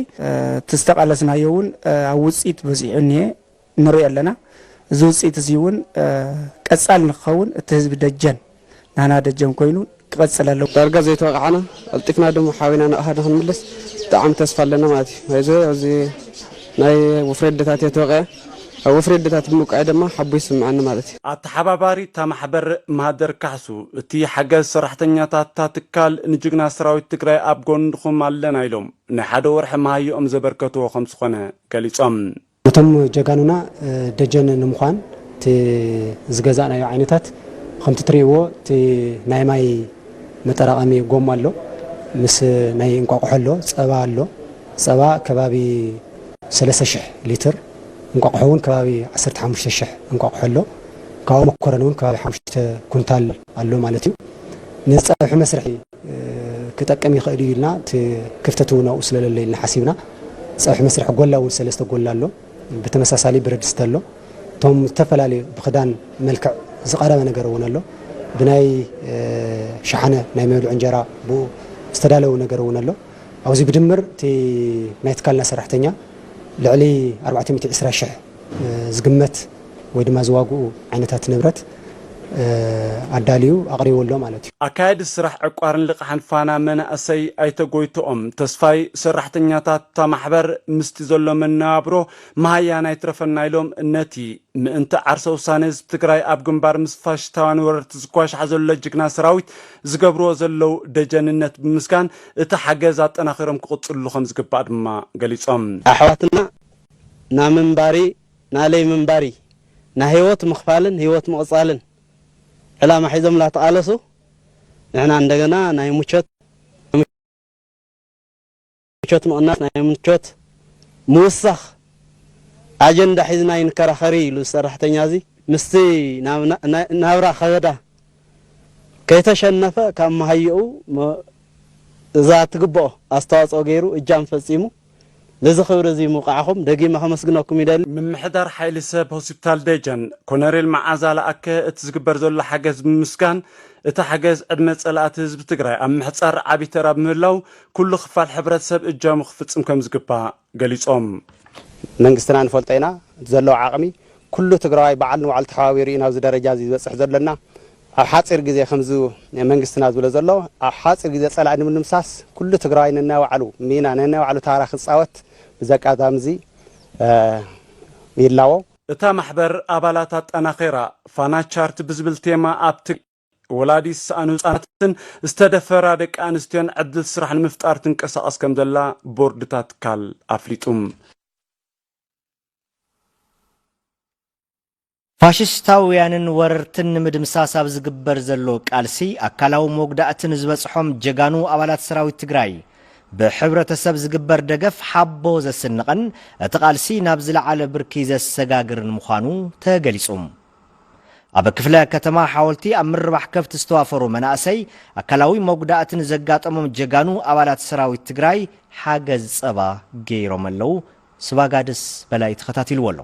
[SPEAKER 22] እቲ ዝተቃለስናዮ እውን ኣብ ውፅኢት በፂሑ እኒሀ ንርኢ ኣለና። እዚ ውፅኢት እዙይ እውን ቀፃሊ ንክኸውን እቲ ህዝቢ ደጀን ናህና ደጀን ኮይኑ ክቐፅል ኣለዎ። ዳርጋ ዘይተወቓዕና ቐልጢፍና ድማ ሓዊና ንቕሃ ንክንምለስ ብጣዕሚ ተስፋ ኣለና ማለት እዩ። ናይዚ ኣብዚ ናይ ወፍሪ ኣዴታት እየ ተወቒዐ። ኣብ ወፍሪ ኣዴታት ብምብቃዐይ ድማ ሓቦ ይስመዐኒ ማለት እዩ። ኣተሓባባሪ እታ
[SPEAKER 21] ማሕበር ማህደር ካሕሱ፣ እቲ ሓገዝ ሰራሕተኛታት እታ ትካል ንጅግና ሰራዊት ትግራይ ኣብ ጎንኹም ኣለና ኢሎም ናይ ሓደ ወርሒ መሃየኦም ዘበርከትዎ ከምዝኾነ ገሊፆም። ነቶም
[SPEAKER 16] ጀጋኑና ደጀን ንምዃን እቲ ዝገዛእናዮ ዓይነታት ኸምቲ ትሪእዎ እቲ ናይ ማይ መጠራቐሚ ጎማ ኣሎ ምስ ናይ እንቋቑሖ ኣሎ ፀባ ኣሎ ፀባ ከባቢ ሰለስተ ሽሕ ሊትር እንቋቑሖ እውን ከባቢ ዓሰርተ ሓሙሽተ ሽሕ እንቋቑሖ ኣሎ ካብኡ መኮረኒ እውን ከባቢ ሓሙሽተ ኩንታል ኣሎ ማለት እዩ ነዚ ፀብሒ መስርሒ ክጠቅም ይኽእል እዩ ኢልና እቲ ክፍተት እውን ኣብኡ ስለለሎ ኢልና ሓሲብና ፀብሒ መስርሒ ጎላ እውን ሰለስተ ጎላ ኣሎ ብተመሳሳሊ ብረድስቲ ኣሎ እቶም ዝተፈላለዩ ብክዳን መልክዕ ዝቀረበ ነገር እውን ኣሎ ብናይ ሸሓነ ናይ መብልዒ እንጀራ ብኡ ዝተዳለወ ነገር እውን ኣሎ ኣብዚ ብድምር እቲ ናይ ትካልና ሰራሕተኛ ልዕሊ 420 ሽሕ ዝግመት ወይ ድማ ዝዋግኡ ዓይነታት ንብረት ኣዳልዩ ኣቕሪቡ ኣሎ ማለት እዩ። ኣካያዲ ስራሕ ዕቋርን
[SPEAKER 21] ልቓሕን ፋና መናእሰይ ኣይተ ጎይቶኦም ተስፋይ፣ ሰራሕተኛታት እታ ማሕበር ምስቲ ዘሎ መነባብሮ መሃያን ኣይትረፈና ኢሎም ነቲ ምእንቲ ዓርሰ ውሳነ ህዝቢ ትግራይ ኣብ ግንባር ምስ ፋሽስታውያን ወረርቲ ዝኳሻሕ ዘሎ ጅግና ሰራዊት ዝገብርዎ ዘለው ደጀንነት ብምምስጋን እቲ ሓገዝ ኣጠናኺሮም ክቕፅልሉ ከምዝግባእ ድማ ገሊፆም። ኣሕዋትና
[SPEAKER 23] ናምንባሪ ናለይ ምንባሪ ናይ ህይወት ምኽፋልን ህይወት ምቕጻልን ዕላማ ሒዞም ላተቓለሱ ንሕና እንደገና ናይ ሙቾት ሙቾት ምቕናስ ናይ ሙቾት ምውሳኽ ኣጀንዳ ሒዝና ኣይንከራኸሪ ኢሉ ዝሰራሕተኛ እዚ ምስቲ ናብራ ከበዳ ከይተሸነፈ ካብ መሃየኡ እዛ ትግበኦ ኣስተዋጽኦ ገይሩ እጃም ፈጺሙ ነዚ ክብሪ እዚ ምውቃዕኹም ደጊመ ከመስግነኩም ይደሊ። ምምሕዳር ሓይሊ
[SPEAKER 21] ሰብ ሆስፒታል ደጀን ኮነሬል መዓዛ ለኣከ እቲ ዝግበር ዘሎ ሓገዝ ብምምስጋን እቲ ሓገዝ ዕድመ ፀላእቲ ህዝቢ ትግራይ ኣብ ምሕፃር ዓብይ ተራ ብምህላው ኩሉ ክፋል ሕብረተሰብ እጃሙ ክፍፅም ከምዝግባእ ገሊፆም። መንግስትና
[SPEAKER 23] ንፈልጦ ኢና እቲ ዘለዎ ዓቕሚ ኩሉ ትግራዋይ በዓል ንባዕሉ ተሓባቢሩ እዩ ናብዚ ደረጃ እዚ ዝበፅሕ ዘሎ እና ኣብ ሓፂር ግዜ ከምዚ መንግስትና ዝብሎ ዘሎ ኣብ ሓፂር ግዜ ፀላኢ ንምድምሳስ ኩሉ ትግራዋይ ነናይ ባዕሉ ሚና ነናይ ባዕሉ ታራ ክፃወት ብዘቃዛሚ እዙይ ይላቦ። እታ ማሕበር
[SPEAKER 21] ኣባላት ኣጠናኺራ ፋና ቻርት ብዝብል ቴማ ኣብ ትግ ወላዲ ዝሰኣኑ ህፃናትን ዝተደፈራ ደቂ ኣንስትዮን ዕድል ስራሕ ንምፍጣር ትንቀሳቐስ ከምዘላ ቦርድ እታ ትካል ኣፍሊጡ።
[SPEAKER 1] ፋሽስታውያንን ወረርትን ንምድምሳስ ኣብ ዝግበር ዘሎ ቃልሲ ኣካላዊ መጉዳእቲ ንዝበፅሖም ጀጋኑ ኣባላት ሰራዊት ትግራይ ብሕብረተሰብ ዝግበር ደገፍ ሓቦ ዘስንቕን እቲ ቃልሲ ናብ ዝለዓለ ብርኪ ዘሰጋግርን ምዃኑ ተገሊፁ። ኣብ ክፍለ ከተማ ሓወልቲ ኣብ ምርባሕ ከፍቲ ዝተዋፈሩ መናእሰይ ኣካላዊ መጉዳእቲ ንዘጋጠሞም ጀጋኑ ኣባላት ሰራዊት ትግራይ ሓገዝ ፀባ ገይሮም ኣለው። ስባጋድስ በላይ ተኸታቲልዎ ኣሎ።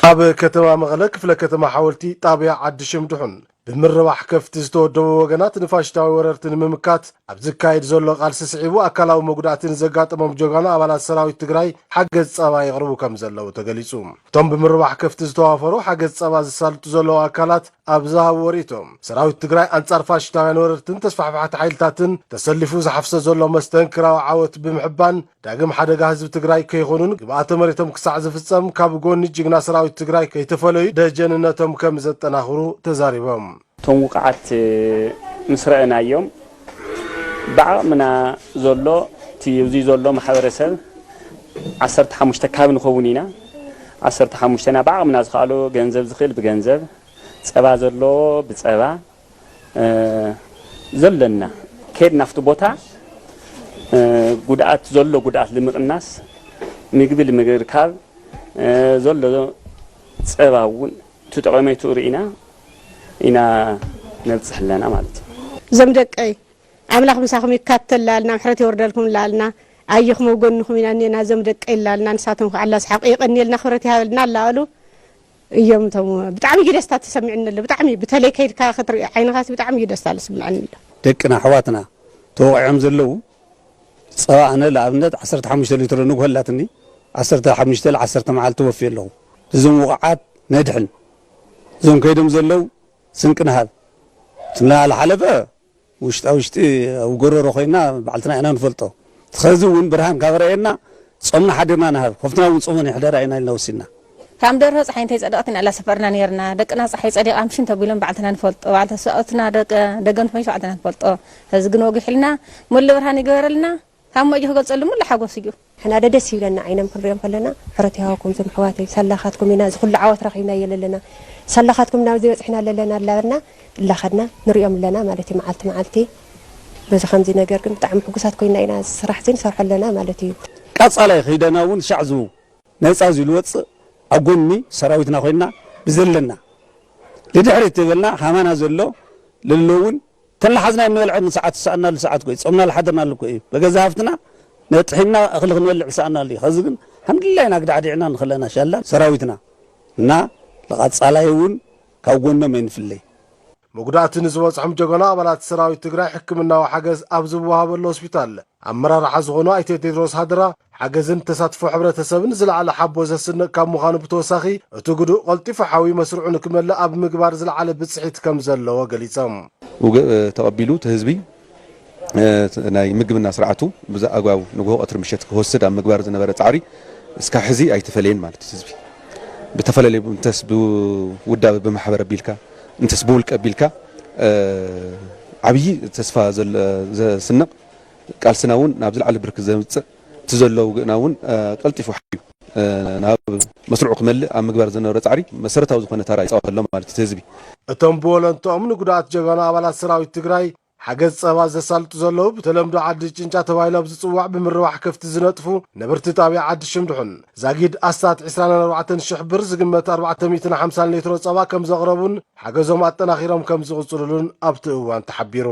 [SPEAKER 24] ኣብ ከተማ መቐለ ክፍለ ከተማ ሓወልቲ ጣብያ ዓዲ ሽምድሑን ብምርባሕ ከፍቲ ዝተወደቡ ወገናት ንፋሽታዊ ወረርቲ ንምምካት ኣብ ዝካየድ ዘሎ ቃልሲ ስዒቡ ኣካላዊ መጉዳእቲ ንዘጋጠሞም ጀጋኑ ኣባላት ሰራዊት ትግራይ ሓገዝ ፀባ የቕርቡ ከም ዘለዉ ተገሊፁ። እቶም ብምርባሕ ከፍቲ ዝተዋፈሩ ሓገዝ ፀባ ዘሳልጡ ዘለዉ ኣካላት ኣብ ዝሃብዎ ሪኢቶ ሰራዊት ትግራይ ኣንፃር ፋሽሽታውያን ወረርትን ተስፋሕፋሕቲ ሓይልታትን ተሰሊፉ ዝሓፍሶ ዘሎ መስተንክራዊ ዓወት ብምሕባን ዳግም ሓደጋ ህዝቢ ትግራይ ከይኾኑን ግብኣተ መሬቶም ክሳዕ ዝፍፀም ካብ ጎኒ ጅግና ሰራዊት ትግራይ ከይተፈለዩ ደጀንነቶም ከምዘጠናኽሩ ተዛሪቦም። እቶም ውቕዓት
[SPEAKER 25] ምስ ረኣናዮም ብዓቕምና ዘሎ እቲ እዙይ ዘሎ ማሕበረሰብ ዓሰርተ ሓሙሽተ ካብ ንኸውን ኢና ዓሰርተ ሓሙሽተና ብዓቕምና ዝኸኣሎ ገንዘብ ዝኽእል ብገንዘብ ፀባ ዘለዎ ብፀባ ዘለና ኬድ ናፍቲ ቦታ ጉድኣት ዘሎ ጉድኣት ልምቕናስ ምግቢ ልምግርካብ ዘሎ ፀባ እውን ትጠቐሜቱ ርኢና ኢና ነብፅሕ ኣለና ማለት እዩ። እዞም ደቀይ
[SPEAKER 3] ኣምላኽ ምሳኹም ይካተል ላልና ምሕረት የወርደልኩም ላልና ኣየኹም ኣብ ጎንኹም ኢና እኔና እዞም ደቀይ ላልና ንሳቶም ክዓ ኣላስሓቑ የቐንየልና ክብረት ይሃበልና ላበሉ እዮም እቶም ብጣዕሚ እዩ ደስታ ተሰሚዕኒ ኣሎ ብጣዕሚ ብተለይ ከይድካ ክትርኢ ዓይንኻሲ ብጣዕሚ እዩ ደስታ ልስመዐኒ ኣሎ። ደቅና ኣሕዋትና
[SPEAKER 17] ተወቒዖም ዘለዉ ጸባ ኣነ ልኣብነት ዓሰርተ ሓሙሽተ ሊትሮ ንግሆ ኣላትኒ ዓሰርተ ሓሙሽተ ል ዓሰርተ መዓልቲ ወፍየ ኣለኹ እዞም ውቑዓት ነድሕን እዞም ከይዶም ዘለዉ ስንቂ ንሃብ እቲ ናልሓለፈ ውሽጣ ውሽጢ ኣብ ጎሮሮ ኮይና ባዕልትና ኢና ንፈልጦ ትኸዚ ውን ብርሃን ካብ ረኤና ጾምና ሓዲርና ንሃብ ኾፍትና ውን ጾመን ይሕደራ ኢና ኢልና ወሲንና። ካም ደርሆ ጸሓይ
[SPEAKER 3] እንተይ ጸደቀት ኢና እላ ሰፈርና ነርና ደቅና ጸሓይ ጸዲቃ ምሽን ተብሎም ባዕልትና ንፈልጦ ባዕልትና ሰብኣውትና ደቂ ደገምት ኮይን ባዕልትና ንፈልጦ ኸዚ ግን ወጊሕልና ሙሉ ብርሃን ይግበረልና። ካብ ሞይኡ ክገልጸሉ ምሉ ሓጎስ እዩ። ንሕና ዶ ደስ ይብለና ዓይኖም ክንሪኦም ከለና ሕሮት ይሃብኩም ዞም ኣሕዋተይ ሳላካትኩም ኢና እዚ ኩሉ ዓወት ረኪብናዮ ለለና ሳላካትኩም ኢና ኣብዚ በጽሕና ለለና እላበልና እላከድና ንሪኦም ኣለና ማለት እዩ መዓልቲ መዓልቲ በዚ ከምዚ ነገር ግን ብጣዕሚ ሕጉሳት ኮይና ኢና እዚ ስራሕ እዚ ንሰርሖ ኣለና ማለት እዩ። ቀጻላይ ኺደና
[SPEAKER 17] ውን ሻዕ ዝብው ነጻ ዝልወጽእ ኣብ ጎኒ ሰራዊትና ኮይና ብዘለና ልድሕሪት ተበልና ካማና ዘሎ ለሎ ውን ተናሓዝና ኣይንበልዕን ንሰዓት ዝሰኣንናሉ ሰዓት እኮ እዩ ጾምና ዝሓደርናሉ እኮ እዩ በገዛ ሃፍትና ነጥሒንና እኽሊ ክንበልዕ ዝሰኣንናሉ እዩ ኸዚ ግን ሓምድላይ ኢና ኣግዳዕዲዕና ንኽለና ሻላ ሰራዊትና እና ንቓጻላይ እውን ካብ ጎኖም ኣይንፍለይ። መጉዳእቲ
[SPEAKER 24] ንዝበፅሖም ጀጋኑ ኣባላት ሰራዊት ትግራይ ሕክምናዊ ሓገዝ ኣብ ዝወሃበሉ ሆስፒታል ኣመራርሓ ዝኾኑ ኣይተ ቴድሮስ ሃደራ፣ ሓገዝን ተሳትፎ ሕብረተሰብን ዝለዓለ ሓቦ ዘስንቕ ካብ ምዃኑ ብተወሳኺ እቲ ግዱእ ቐልጢፉ ሓዊ መስርዑ ንክመልእ ኣብ ምግባር ዝለዓለ ብፅሒት ከምዘለዎ ገሊፆም። ውግእ ተቐቢሉ
[SPEAKER 4] እቲ ህዝቢ ናይ ምግብና ስርዓቱ ብዘኣግባቡ ንጉሆ ቐትሪ ምሸት ክወስድ ኣብ ምግባር ዝነበረ ፃዕሪ እስካብ ሕዚ ኣይተፈለየን ማለት እዩ። ህዝቢ ብተፈላለዩ እንተስ ብውዳበ ብማሕበር ኣቢልካ እንተስ ብውልቀ ኣቢልካ ዓብዪ ተስፋ ዘስንቕ ቃልስና እውን ናብ ዝለዓለ ብርኪ ዘምፅእ እቲ ዘሎ ውግእና እውን ቀልጢፉ ሓዩ ናብ መስርዑ ክመልእ ኣብ ምግባር ዝነበረ ፃዕሪ መሰረታዊ ዝኾነ ታራ ይፃወት ኣሎ ማለት እዩ እቲ ህዝቢ። እቶም ብወለንትኦም
[SPEAKER 24] ንጉዱኣት ጀጋኑ ኣባላት ሰራዊት ትግራይ ሓገዝ ፀባ ዘሳልጡ ዘለዉ ብተለምዶ ዓዲ ጭንጫ ተባሂሉ ኣብ ዝፅዋዕ ብምርባሕ ከፍቲ ዝነጥፉ ነበርቲ ጣብያ ዓዲ ሽምድሑን ዛጊድ ኣስታት ዕስራን ኣርባዕተን ሽሕ ብር ዝግመት ኣርባዕተ ሚእትን ሓምሳን ሌትሮ ፀባ ከምዘቕረቡን ሓገዞም ኣጠናኺሮም ከምዝቕፅሉሉን ኣብቲ እዋን ተሓቢሩ።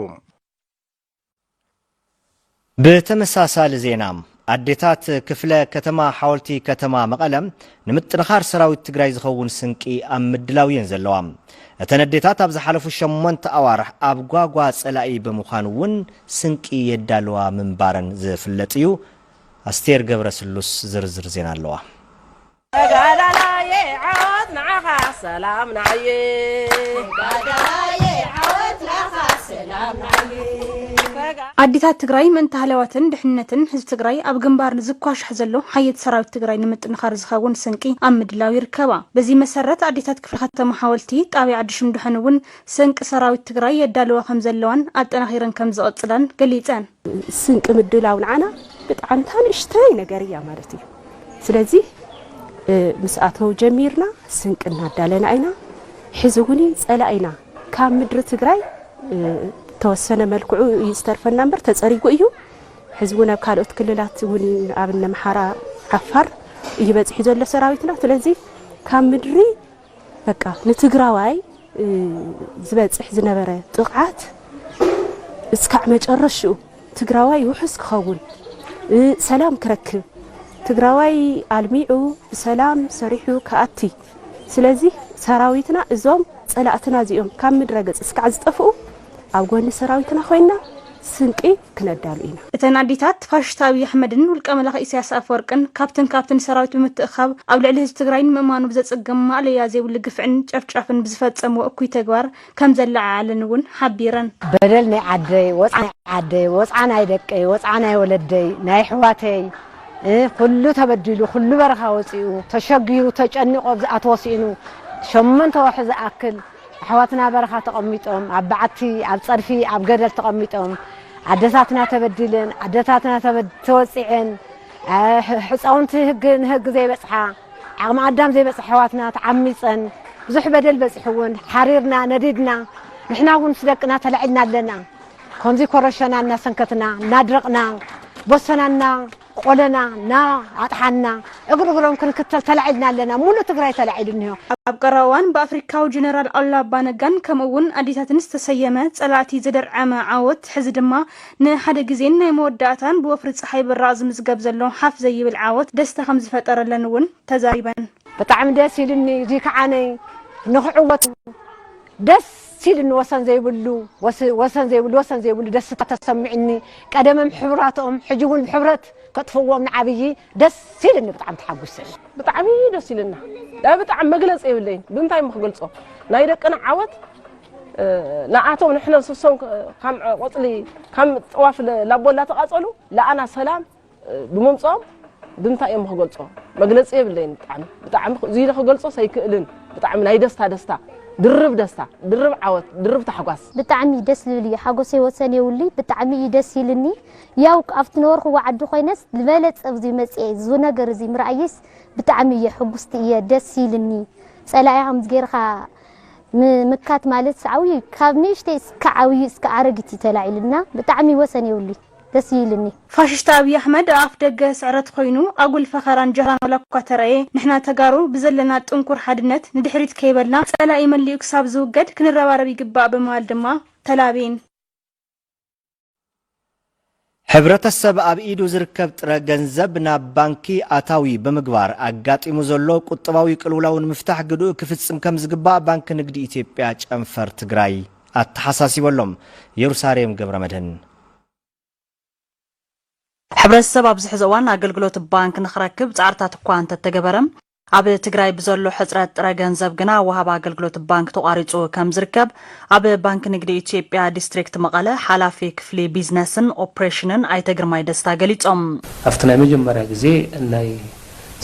[SPEAKER 1] ብተመሳሳሊ ዜና ኣዴታት ክፍለ ከተማ ሓወልቲ ከተማ መቐለ ንምጥንኻር ሰራዊት ትግራይ ዝኸውን ስንቂ ኣብ ምድላው እየን ዘለዋ። እተን ኣዴታት ኣብ ዝሓለፉ ሸሞንተ ኣዋርሕ ኣብ ጓጓ ፀላኢ ብምዃን እውን ስንቂ የዳልዋ ምንባረን ዝፍለጥ እዩ። ኣስቴር ገብረስሉስ ዝርዝር ዜና ኣለዋ። ተጋዳላየይ ዓወት ንዓኻ ሰላም ንዓየ ተጋዳላየይ
[SPEAKER 5] ዓወት ንዓኻ ሰላም ንዓየ ኣዴታት ትግራይ ምእንቲ ሃለዋትን ድሕንነትን ህዝቢ ትግራይ ኣብ ግንባር ንዝኳሻሕ ዘሎ ሓየት ሰራዊት ትግራይ ንምጥንኻር ዝኸውን ስንቂ ኣብ ምድላው ይርከባ። በዚ መሰረት ኣዴታት ክፍለ ከተማ ሓወልቲ ጣብያ ዓዲ ሽንዱሐን እውን ስንቂ ሰራዊት ትግራይ የዳልዋ ከምዘለዋን ኣጠናኺረን ከምዝቕፅላን ገሊፀን። ስንቂ
[SPEAKER 3] ምድላው ንዓና ብጣዕምታ ንእሽተይ ነገር እያ ማለት እዩ። ስለዚ ምስ ኣቶ ጀሚርና ስንቂ እናዳለና ኢና ሕዚ እውን ፀላኢና ካብ ምድሪ ትግራይ ተወሰነ መልክዑ እዩ ዝተርፈና እምበር ተፀሪጉ እዩ ሕዚ እውን ኣብ ካልኦት ክልላት እውን ኣብ ነምሓራ ዓፋር እዩ በፂሑ ዘሎ ሰራዊትና ስለዚ ካብ ምድሪ በቃ ንትግራዋይ ዝበፅሕ ዝነበረ ጥቕዓት እስካዕ መጨረሽኡ ትግራዋይ ውሑስ ክኸውን ሰላም ክረክብ ትግራዋይ ኣልሚዑ ብሰላም ሰሪሑ ክኣቲ ስለዚ ሰራዊትና እዞም ፀላእትና እዚኦም ካብ ምድረ ገፅ እስካዕ ዝጠፍኡ ኣብ ጎኒ ሰራዊትና ኮይና ስንቂ ክነዳሉ ኢና። እተን ኣዴታት ፋሽስታዊ ኣሕመድን ውልቀ መላኺ ኢሳያስ ኣፈወርቅን ካብትን ካብትን ሰራዊት ብምትእኻብ ኣብ ልዕሊ ህዝቢ ትግራይ ንምእማኑ ብዘጸግም ማእለያ ዘይብሉ ግፍዕን ጨፍጫፍን ብዝፈጸምዎ እኩይ ተግባር ከምዘለዓዓለን እውን ሓቢረን። በደል ናይ
[SPEAKER 6] ዓደይ ወጽዓ ናይ ዓደይ ወጽዓ ናይ ደቀይ ወጽዓ ናይ ወለደይ ናይ ኣሕዋተይ ኩሉ ተበዲሉ ኩሉ በረኻ ወጺኡ ተሸጊሩ ተጨኒቑ ኣብ ዝኣተዎ ስኢኑ ሸሞንተ ወርሒ ዝኣክል ኣሕዋትና በረኻ ተቐሚጦም ኣብ በዓቲ ኣብ ጸድፊ ኣብ ገደል ተቐሚጦም ኣደታትና ተበዲልን ኣደታትና ተወጺዐን ሕጻውንቲ ህግ ንህግ ዘይበጽሓ ዓቕሚ ኣዳም ዘይበጽሐ ኣሕዋትና ተዓሚጸን ብዙሕ በደል በጺሕውን ሓሪርና ነዲድና ንሕና እውን ምስ ደቅና ተላዒልና ኣለና ከምዚ ኮረሸና እናሰንከትና እናድረቕና ቦሰናና ቆለና ና ኣጥሓና እግር እግሮም ክንክተል ተላዒልና ኣለና ሙሉእ ትግራይ ተላዒሉ እኒሆ። ኣብ ቀረባ እዋን
[SPEAKER 5] ብኣፍሪካዊ ጀነራል ኣሉላ ኣባነጋን ከምኡ እውን ኣዴታትን ዝተሰየመ ፀላእቲ ዘደርዐመ ዓወት ሕዚ ድማ ንሓደ ግዜን ናይ መወዳእታን ብወፍሪ ፀሓይ ብራቕ ዝምዝገብ ዘሎ ሓፍ ዘይብል ዓወት ደስታ ከምዝፈጠረለን እውን ተዛሪበን። ብጣዕሚ ደስ
[SPEAKER 6] ኢሉኒ እዙይ ክዓነይ ንክዕወት ደስ ሲድኒ ወሰን ዘይብሉ ወሰን ዘይብሉ ወሰን ዘይብሉ ደስታ ተሰሚዕኒ ቀደምም ሕብራቶም ሕጂ ውን ብሕብረት ከጥፍዎም ንዓብዪ ደስ ኢልኒ ብጣዕሚ ተሓጉሰ። ብጣዕሚ ደስ
[SPEAKER 2] ኢልና ናይ ብጣዕሚ መግለጺ የብለይን ብምንታይ እሞ ክገልጾ ናይ ደቅና ዓወት ንኣቶም ንሕነ ንስሶም ካም ቆጽሊ ካም ጥዋፍ ላቦላ ተቃጸሉ ልኣና ሰላም ብምምጽኦም ብምንታይ እዮም ክገልጾ መግለጺ የብለይን ብጣዕሚ ብጣዕሚ እዚ ኢለ ክገልጾስ ኣይክእልን ብጣዕሚ ናይ ደስታ ደስታ ድርብ ደስታ ድርብ ዓወት ድርብ ታሕጓስ ብጣዕሚ ደስ ዝብል
[SPEAKER 7] እዩ ሓጎሰይ ወሰን የብሉይ ብጣዕሚ እዩ ደስ ኢሉኒ ያው ኣብቲ ነበርክዎ ዓዲ ኮይነስ ዝበለጸ ኣብዚ መጽኤ እዚ ነገር እዚ ምርኣየይስ ብጣዕሚ እየ ሕጉስቲ እየ ደስ ኢሉኒ ጸላኢኻ ከምዚ ጌርካ ምምካት ማለት ዓብዩ ካብ ንእሽተይ እስከ ዓብዩ እስከ ኣረጊት እዩ ተላዒሉና ብጣዕሚ ወሰን የብሉይ ደስ ኢልኒ። ፋሽስት ኣብይ
[SPEAKER 5] ኣሕመድ ኣኣፍ ደገ ስዕረት ኾይኑ ኣጉል ፈኸራን ጃህራን ዋላኳ ተረኣየ ንሕና ተጋሩ ብዘለና ጥንኩር ሓድነት ንድሕሪት ከይበልና ፀላኢ መሊኡ ክሳብ ዝውገድ ክንረባረብ ይግባእ ብምባል ድማ ተላብየን።
[SPEAKER 1] ሕብረተሰብ ኣብ ኢዱ ዝርከብ ጥረ ገንዘብ ናብ ባንኪ ኣታዊ ብምግባር ኣጋጢሙ ዘሎ ቁጠባዊ ቅልውላው ንምፍታሕ ግድኡ ክፍፅም ከምዝግባእ ባንኪ ንግዲ ኢትዮጵያ ጨንፈር ትግራይ ኣተሓሳሲቡ ኣሎ። የሩሳሌም ገብረመድህን።
[SPEAKER 8] ሕብረተሰብ ኣብዚ ሕዚ እዋን ኣገልግሎት ባንክ ንኽረክብ ፃዕርታት እኳ እንተተገበረ ኣብ ትግራይ ብዘሎ ሕፅረት ጥረ ገንዘብ ግና ወሃቢ ኣገልግሎት ባንክ ተቋሪፁ ከምዝርከብ ኣብ ባንኪ ንግዲ ኢትዮጵያ ዲስትሪክት መቐለ ሓላፊ ክፍሊ ቢዝነስን ኦፕሬሽንን ኣይተ ግርማይ ደስታ ገሊፆም። ኣብቲ ናይ
[SPEAKER 9] መጀመርያ ግዜ ናይ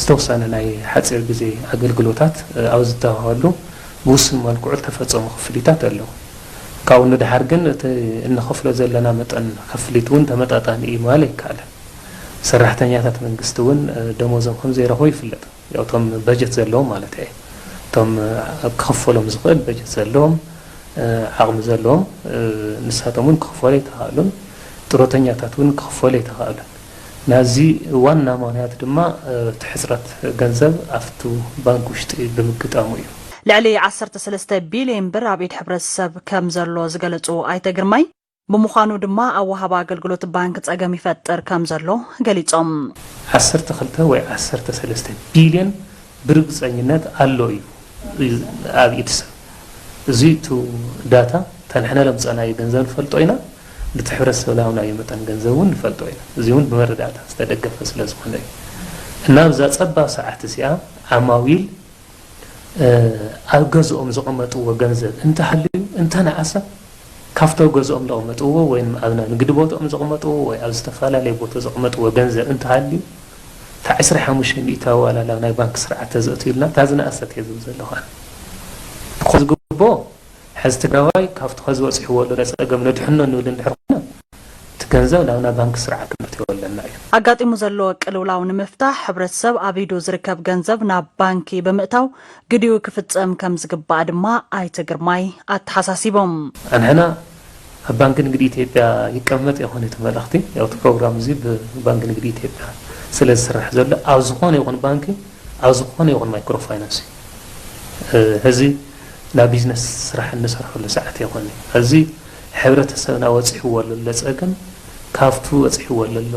[SPEAKER 9] ዝተውሰነ ናይ ሓጺር ግዜ ኣገልግሎታት ኣብ ዝተውሃበሉ ብውሱን መልክዑ ዝተፈጸሙ ክፍሊታት ኣለዉ። ካብኡ ንደሓር ግን እቲ እንኸፍሎ ዘለና መጠን ክፍሊት እውን ተመጣጣኒ እዩ ምባል ኣይከኣልን። ሰራሕተኛታት መንግስቲ እውን ደሞዞም ከም ዘይረኽቡ ይፍለጥ። ያው እቶም በጀት ዘለዎም ማለተይ እየ። እቶም ክኽፈሎም ዝኽእል በጀት ዘለዎም፣ ዓቕሚ ዘለዎም ንሳቶም እውን ክኽፈሉ ኣይተኻእሉን። ጥሮተኛታት እውን ክኽፈሉ ኣይተኻእሉን። ናዚ ዋና ምኽንያት ድማ እቲ ሕጽረት ገንዘብ ኣብቲ ባንክ ውሽጢ ብምግጣሙ እዩ። ልዕሊ ዓሰርተ
[SPEAKER 8] ሰለስተ ቢሊየን ብር ኣብ ኢድ ሕብረተሰብ ከምዘሎ ዝገለፁ ኣይተ ግርማይ፣ ብምዃኑ ድማ ኣብ ወሃቢ ኣገልግሎት ባንክ ፀገም ይፈጥር ከምዘሎ ገሊፆም። ዓሰርተ ክልተ ወይ ዓሰርተ
[SPEAKER 9] ሰለስተ ቢሊየን ብርግፀኝነት ኣሎ እዩ ኣብ ኢድ ሰብ። እዙይ እቲ ዳታ እታ ንሕና ለምፀእናዮ ገንዘብ ንፈልጦ ኢና። ነቲ ሕብረተሰብ ዝሃብናዮ መጠን ገንዘብ እውን ንፈልጦ ኢና። እዚ እውን ብመረዳእታ ዝተደገፈ ስለ ዝኾነ እዩ። እና ኣብዛ ፀባብ ሰዓት እዚኣ ዓማዊል ኣብ ገዝኦም ዘቐመጥዎ ገንዘብ እንተሃልዩ እንተነኣሰ ካብቲ ኣብ ገዝኦም ዘቐመጥዎ ወይም ኣብ ናንግዲ ቦትኦም ዘቐመጥዎ ወይ ኣብ ዝተፈላለየ ቦተ ዘቐመጥዎ ገንዘብ እንተሃልዩ እታ ዕስራ ሓሙሽተ ሚእታዊ ዋላ ናብ ናይ ባንኪ ስርዓት ተዘእትዩልና እታ ዝነኣሰት እየ ዝብል ዘለኹ ኣነ። ብኮ ዝግብኦ ሕዚ ትግራዋይ ካብቲ ከዚ በፂሕዎ ዘሎ ፀገም ነድሕኖ ንብል እንድሕር ኮይና እቲ ገንዘብ ናብና ባንኪ ስርዓት ክነእትዎ ኣለና እዩ። ኣጋጢሙ ዘሎ
[SPEAKER 8] ቅልውላው ንምፍታሕ ሕብረተሰብ ኣብ ኢዱ ዝርከብ ገንዘብ ናብ ባንኪ ብምእታው ግዲኡ ክፍፀም ከምዝግባእ ድማ ኣይተ ግርማይ ኣተሓሳሲቦም። ኣንሕና
[SPEAKER 9] ኣብ ባንኪ ንግዲ ኢትዮጵያ ይቀመጥ ይኾን እቲ መልእኽቲ? ያው እቲ ፕሮግራም እዚ ብባንኪ ንግዲ ኢትዮጵያ ስለ ዝስራሕ ዘሎ ኣብ ዝኾነ ይኹን ባንኪ ኣብ ዝኾነ ይኹን ማይክሮ ፋይናንስ እዩ። ሕዚ ናይ ቢዝነስ ስራሕ እንሰርሐሉ ሰዓት ኣይኮን እዩ። ሕዚ ሕብረተሰብና ወፂሕዎ ለሎ ፀገም ካብቱ ወፂሕዎ ለሎ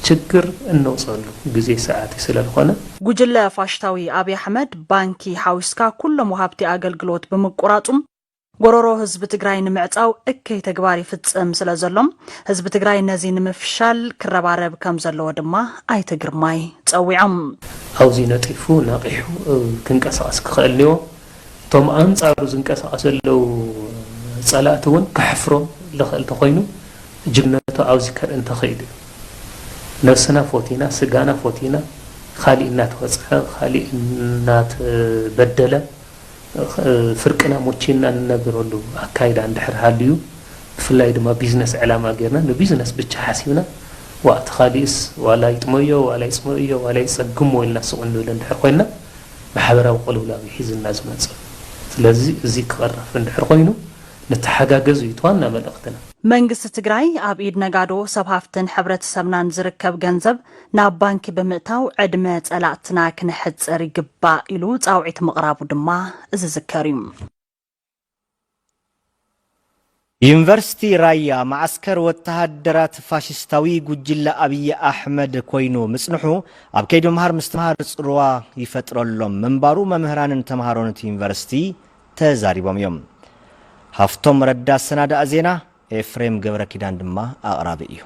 [SPEAKER 9] ችግር እነውፀሉ ግዜ ሰዓት እዩ ስለ ልኾነ። ጉጅለ ፋሽታዊ
[SPEAKER 8] ኣብይ ኣሕመድ ባንኪ ሓዊስካ ኩሎም ወሃብቲ ኣገልግሎት ብምቁራፁም ጎሮሮ ህዝቢ ትግራይ ንምዕፃው እከይ ተግባር ይፍፅም ስለ ዘሎ ህዝቢ ትግራይ ነዚ ንምፍሻል ክረባረብ ከም ዘለዎ ድማ ኣይተ ግርማይ ፀዊዖም። ኣብዚ
[SPEAKER 9] ነጢፉ ነቒሑ ክንቀሳቐስ ክኸእል እኒዎ። እቶም ኣንፃሩ ዝንቀሳቐሱ ዘለዉ ፀላእቲ እውን ከሕፍሮም ልኸእል ተኾይኑ ጅግነቱ ኣብዚ ከርኢ እንተኽኢሉ እዩ። ነብስና ፎቲና ስጋና ፎቲና ኻሊእ እናተወፅዐ ኻሊእ እናተበደለ ፍርቅና ሞቺና ንነብረሉ ኣካይዳ እንድሕር ሃልዩ፣ ብፍላይ ድማ ቢዝነስ ዕላማ ጌርና ንቢዝነስ ብቻ ሓሲብና ዋእ እቲ ካሊእስ ዋላ ይጥመዮ ዋላ ይፅምእዮ ዋላ ይፀግሞ ኢልና ስቕ እንብል እንድሕር ኮይንና ማሕበራዊ ቅልውላው እዩ ሒዝልና ዝመፅእ። ስለዚ እዙይ ክቕረፍ እንድሕር ኮይኑ ንተሓጋገዝ እዩ እቲ ዋና መልእኽትና። መንግስቲ ትግራይ
[SPEAKER 8] ኣብ ኢድ ነጋዶ፣ ሰብ ሃፍትን ሕብረተሰብናን ዝርከብ ገንዘብ ናብ ባንኪ ብምእታው ዕድመ ፀላእትና ክነሕፅር ይግባእ ኢሉ ፃውዒት ምቕራቡ ድማ ዝዝከር እዩ።
[SPEAKER 1] ዩኒቨርሲቲ ራያ መዓስከር ወተሃደራት ፋሽስታዊ ጉጅለ ኣብዪ ኣሕመድ ኮይኑ ምፅንሑ ኣብ ከይዲ ምምሃር ምስትምሃር ፅልዋ ይፈጥረሎም ምንባሩ መምህራንን ተምሃሮን እቲ ዩኒቨርሲቲ ተዛሪቦም እዮም። ሃፍቶም ረዳ ኣሰናደኣ ዜና፣ ኤፍሬም ገብረኪዳን ድማ ኣቕራቢ እዩ።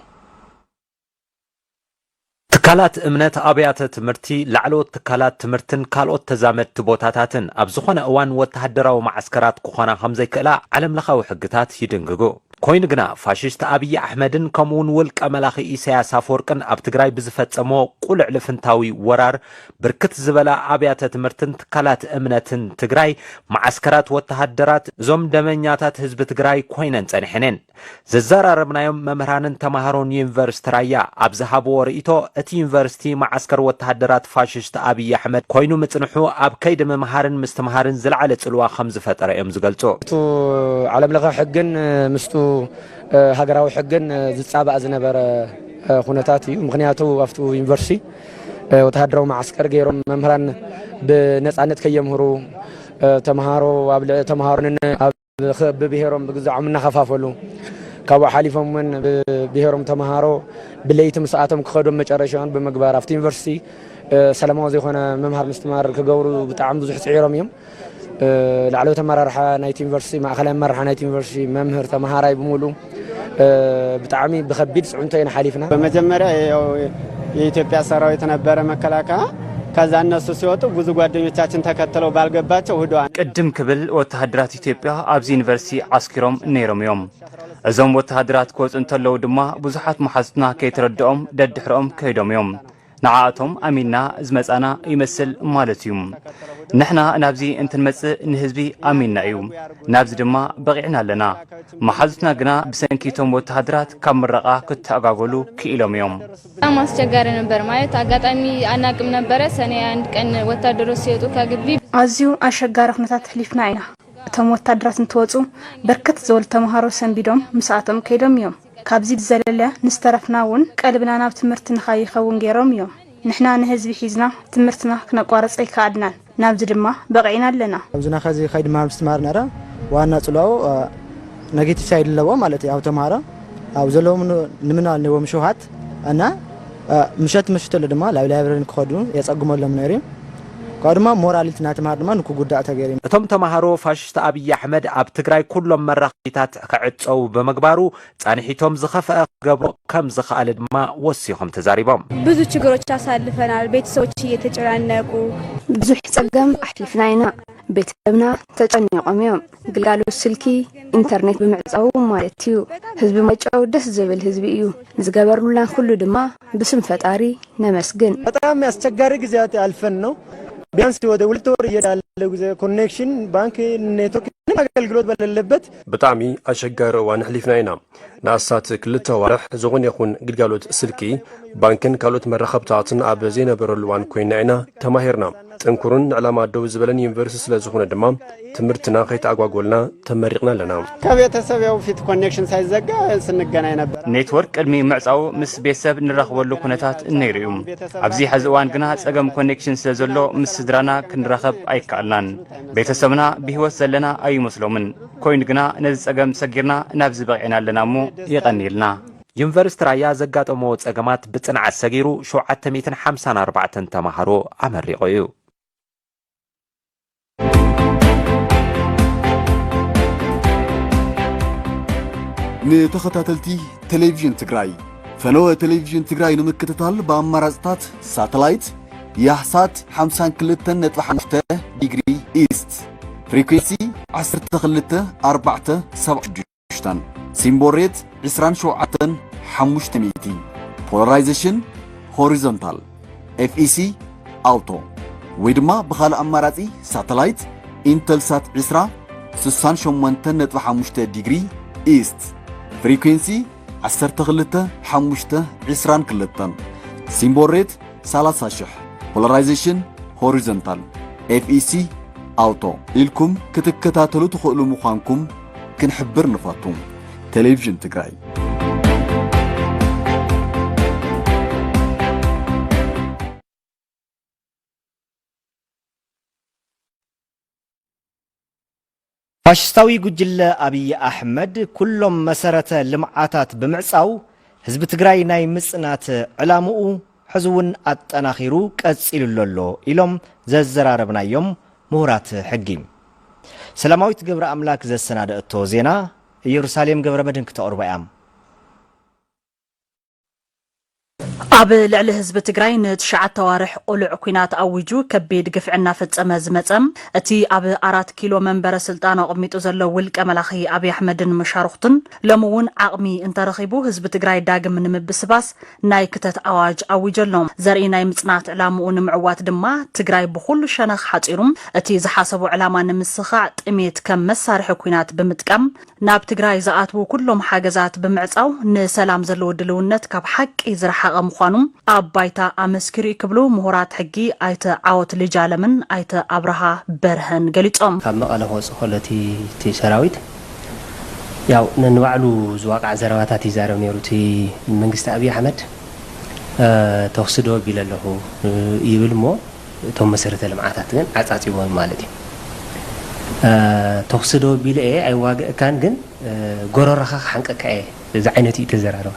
[SPEAKER 10] ትካላት እምነት፣ ኣብያተ ትምህርቲ፣ ላዕለዎት ትካላት ትምህርትን ካልኦት ተዛመድቲ ቦታታትን ኣብ ዝኾነ እዋን ወተሃደራዊ መዓስከራት ክኾና ከምዘይክእላ ዓለምለኻዊ ሕግታት ይድንግጉ። ኮይኑ ግና ፋሽስት ኣብይ ኣሕመድን ከምኡ እውን ውልቀ መላኺ ኢሳያስ ኣፈወርቅን ኣብ ትግራይ ብዝፈፀምዎ ቁልዕ ልፍንታዊ ወራር ብርክት ዝበላ ኣብያተ ትምህርትን ትካላት እምነትን ትግራይ መዓስከራት ወተሃደራት እዞም ደመኛታት ህዝቢ ትግራይ ኮይነን ፀኒሐን እየን። ዘዘራረብናዮም መምህራንን ተማሃሮን ዩኒቨርስቲ ራያ ኣብ ዝሃብዎ ርእይቶ እቲ ዩኒቨርስቲ መዓስከር ወተሃደራት ፋሽስት ኣብይ ኣሕመድ ኮይኑ ምፅንሑ ኣብ ከይዲ ምምሃርን ምስትምሃርን ዝለዓለ ፅልዋ ከምዝፈጠረ እዮም ዝገልፁ። እቱ ዓለም
[SPEAKER 11] ለኸ ሕግን ምስቱ ሃገራዊ ሕግን ዝፃባእ ዝነበረ ኹነታት እዩ። ምኽንያቱ ኣብቱ ዩኒቨርስቲ ወተሃደራዊ መዓስከር ገይሮም መምህራን ብነፃነት ከየምህሩ ተምሃሮ ኣብ ተምሃሮ ብብሄሮም ብግዛዖም እናኸፋፈሉ ካብኡ ሓሊፎም እውን ብብሄሮም ተምሃሮ ብለይቲ ምስኣቶም ክኸዱ መጨረሻውን ብምግባር ኣብቲ ዩኒቨርሲቲ ሰላማዊ ዘይኮነ ምምሃር ምስትማር ክገብሩ ብጣዕሚ ብዙሕ ፅዒሮም እዮም ላዕለዎት ኣመራርሓ ናይቲ ዩኒቨርሲቲ ማእኸላይ ኣመራርሓ ናይቲ ዩኒቨርሲቲ መምህር ተምሃራይ ብምሉእ ብጣዕሚ ብከቢድ ፅዕንቶ ኢና ሓሊፍና። በመጀመሪያ ያው
[SPEAKER 12] የኢትዮጵያ ሰራዊት ነበረ መከላከያ። ከዛ እነሱ ሲወጡ ብዙ ጓደኞቻችን ተከትለው ባልገባቸው ህደዋል። ቅድም ክብል
[SPEAKER 13] ወተሃደራት ኢትዮጵያ ኣብዚ ዩኒቨርሲቲ ዓስኪሮም ነይሮም እዮም። እዞም ወተሃደራት ክወፁ እንተለዉ ድማ ብዙሓት መሓዙትና ከይተረድኦም ደድሕረኦም ከይዶም እዮም። ንዓኣቶም ኣሚንና ዝመጻና ይመስል ማለት እዩ። ንሕና ናብዚ እንትንመጽእ ንህዝቢ ኣሚንና እዩ፣ ናብዚ ድማ በቒዕና ኣለና። መሓዙትና ግና ብሰንኪ እቶም ወተሃደራት ካብ ምረቓ ክተኣጓጎሉ ክኢሎም እዮም። በጣም ኣስቸጋሪ
[SPEAKER 14] ነበር ማለት ኣጋጣሚ ኣናቅም ነበረ ሰኔ አንድ ቀን ወታደሮች ሲወጡ ከግቢ። ኣዝዩ ኣሸጋሪ
[SPEAKER 5] ኩነታት ኣሕሊፍና ኢና። እቶም ወታደራት እንትወጹ ብርክት ዝበሉ ተምሃሮ ሰንቢዶም ምስኣቶም ከይዶም እዮም። ካብዚ ብዘለለ ንዝተረፍና እውን ቀልብና ናብ ትምህርቲ ንካይኸውን ገይሮም እዮም። ንሕና ንህዝቢ ሒዝና ትምህርትና ክነቋርፅ ኣይከኣልናን። ናብዚ ድማ በቒዕና ኣለና። ኣብዚ ናኸዚ ከይዲ
[SPEAKER 22] ምሃር ምስትምሃር ነረ ዋና ፅልዋኡ ነጌቲቭ ሳይድ ኣለዎ ማለት እዩ። ኣብ ተምሃሮ ኣብ ዘለዎም ንምናል ነዎም ሽውሃት እና ምሸት ምሽት ሎ ድማ ላብ ላይብረሪ ክኸዱ የፀግመሎም ነይሩ እዩ። ካብኡ ድማ ሞራል እቲ ናይ ተምሃሮ ድማ ንክጉዳእ ተገይሩ እዩ። እቶም ተምሃሮ ፋሽስት
[SPEAKER 10] ኣብይ ኣሕመድ ኣብ ትግራይ ኩሎም መራኸቢታት ክዕፀዉ ብምግባሩ ፃንሒቶም ዝኸፈኣ ክገብሮ ከምዝኸኣለ ድማ ወሲኾም ተዛሪቦም። ብዙ ችግሮች
[SPEAKER 26] ኣሳልፈናል ቤተሰቦች እየተጨናነቁ። ብዙሕ ፀገም ኣሕሊፍና ኢና ቤተሰብና ተጨኒቆም እዮም ግልጋሎት ስልኪ ኢንተርኔት ብምዕፃዉ ማለት እዩ ህዝቢ ማይጨዉ ደስ ዝብል ህዝቢ እዩ ንዝገበርሉና ኩሉ ድማ ብስም ፈጣሪ ነመስግን። በጣም አስቸጋሪ
[SPEAKER 22] ጊዜያት አልፈን ነው። ቢያንስ ወደ ሁለት ወር እየሄደ ያለው ጊዜ ኮኔክሽን ባንክ ኔትወርክ ምንም አገልግሎት በሌለበት ብጣዕሚ
[SPEAKER 27] ኣሸጋሪ እዋን ኣሕሊፍና ኢና። ንኣስታት ክልተ ኣዋርሕ ዝኾነ ይኹን ግልጋሎት ስልኪ፣ ባንክን ካልኦት መራኸብታትን ኣብ ዘይነበረሉ እዋን ኮይንና ኢና ተማሂርና። ጥንኩርን ንዕላማ ደው ዝበለን ዩኒቨርሲቲ ስለ ዝኾነ ድማ ትምህርትና ከይተኣጓጎልና ተመሪቕና ኣለና። ከቤተሰብ ያው ፊት
[SPEAKER 12] ኮኔክሽን ሳይዘጋ ስንገናኝ ነበር። ኔትወርክ ቅድሚ ምዕጻዉ
[SPEAKER 13] ምስ ቤተሰብ ንራኽበሉ ኩነታት ነይሩ እዩ። ኣብዚ ሐዚ እዋን ግና ጸገም ኮኔክሽን ስለ ዘሎ ምስ ስድራና ክንራኸብ ኣይከኣልናን። ቤተሰብና ብህይወት ዘለና ኣይመስሎምን። ኮይኑ ግና ነዚ ጸገም ሰጊርና ናብዚ በቒዕና ኣለና እሞ የቐንየልና። ዩኒቨርስቲ
[SPEAKER 10] ራያ ዘጋጠምዎ ፀገማት ብፅንዓት ሰጊሩ ሸውዓተ ሚእትን ሓምሳን ኣርባዕተን ተምሃሮ ኣመሪቑ እዩ።
[SPEAKER 28] ንተኸታተልቲ ቴሌቪዥን ትግራይ ፈነወ ቴሌቪዥን ትግራይ ንምክትታል ብኣማራፅታት ሳተላይት ያህሳት 52.5 ዲግሪ ኢስት ፍሪኩንሲ 12 4 76 ሓሙሽተን ሲምቦል ሬት ዕስራን ሸውዓተን ሓሙሽተ ሚእቲ ፖላራይዜሽን ሆሪዞንታል ኤፍኢሲ ኣውቶ ወይ ድማ ብኻልእ ኣማራጺ ሳተላይት ኢንተልሳት ዕስራ ስሳን ሸሞንተን ነጥቢ ሓሙሽተ ዲግሪ ኢስት ፍሪኩንሲ ዓሰርተ ክልተ ሓሙሽተ ዕስራን ክልተን ሲምቦል ሬት ሰላሳ ሽሕ ፖላራይዜሽን ሆሪዞንታል ኤፍኢሲ ኣውቶ ኢልኩም ክትከታተሉ ትኽእሉ ምዃንኩም ክንሕብር ንፈቱ ቴሌቪዥን ትግራይ
[SPEAKER 1] ፋሽስታዊ ጉጅለ ኣብዪ ኣሕመድ ኩሎም መሰረተ ልምዓታት ብምዕፃው ህዝቢ ትግራይ ናይ ምፅናት ዕላምኡ ሕዚ እውን ኣጠናኺሩ ቀፂሉሉ ኣሎ ኢሎም ዘዘራረብናዮም ምሁራት ሕጊ። ሰላማዊት ገብረኣምላክ ዘሰናደኣቶ ዜና እየሩሳሌም ገብረመድህን ክተቕርቦ እያ።
[SPEAKER 8] ኣብ ልዕሊ ህዝቢ ትግራይ ንትሽዓተ ኣዋርሕ ቁሉዕ ኩናት ኣዊጁ ከቢድ ግፍዒ እናፈፀመ ዝመፀ እቲ ኣብ ኣራት ኪሎ መንበረ ስልጣን ኣቕሚጡ ዘሎ ውልቀ መላኺ ኣብይ ኣሕመድን መሻርኹቱን ሎሚ እውን ዓቕሚ እንተረኺቡ ህዝቢ ትግራይ ዳግም ንምብስባስ ናይ ክተት ኣዋጅ ኣዊጀሎ። ዘርኢ ናይ ምፅናት ዕላምኡ ንምዕዋት ድማ ትግራይ ብኹሉ ሸነኽ ሓፂሩ እቲ ዝሓሰቦ ዕላማ ንምስኻዕ ጥሜት ከም መሳርሒ ኩናት ብምጥቃም ናብ ትግራይ ዝኣትዉ ኩሎም ሓገዛት ብምዕፃው ንሰላም ዘለዎ ድልውነት ካብ ሓቂ ዝረሓቐ ምዃኑ ኣብ ባይታ ኣመስኪሩ እዩ ክብሉ ምሁራት ሕጊ ኣይተ ዓወት ልጅ ኣለምን ኣይተ ኣብርሃ በርሀን ገሊፆም። ካብ መቐለ ክወፅእ ከሎ
[SPEAKER 15] እቲ ሰራዊት ያው ነንባዕሉ ዝዋቃዕ ዘረባታት ይዛረብ ነይሩ እቲ መንግስቲ ኣብይ ኣሕመድ ተኹሲ ደው ኣቢለ ኣለኹ ይብል እሞ እቶም መሰረተ ልምዓታት ግን ዓፃፂቦም ማለት እዩ ተኹሲ ደው ኣቢለ እየ ኣይዋገእካን ግን ጎረረኻ ክሓንቀካ እየ እዚ ዓይነት እዩ ተዘራረባ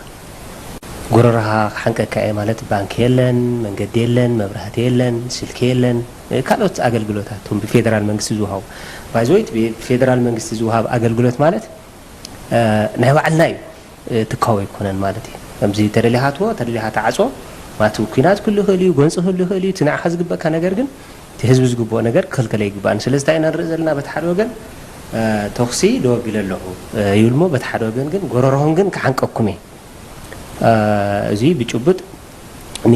[SPEAKER 15] ጎረረኻ ክሓንቀካ እየ ማለት ባንኪ የለን መንገዲ የለን መብራህቲ የለን ስልኪ የለን ካልኦት ኣገልግሎታት እቶም ብፌደራል መንግስቲ ዝውሃቡ ባይ ዘ ወይ ብፌደራል መንግስቲ ዝውሃብ ኣገልግሎት ማለት ናይ ባዕልና እዩ ትካዊ ኣይኮነን ማለት እዩ ከምዚ ተደሊኻ ኣትዎ ተደሊኻ ተዓጾ ማቲ ኩናት ክህሉ ይኽእል እዩ ጎንፂ ክህሉ ይኽእል እዩ እቲ ንዓኻ ዝግበእካ ነገር ግን እቲ ህዝቢ ዝግብኦ ነገር ክኽልከለ ይግባእ ስለዚ እንታይ ኢና ንርኢ ዘለና በቲ ሓደ ወገን ተኹሲ ደው ኣቢለ ኣለኹ ይብል እሞ በቲ ሓደ ወገን ግን ጎረርኹም ግን ክሓንቀኩም እየ እዙይ ብጭቡጥ ን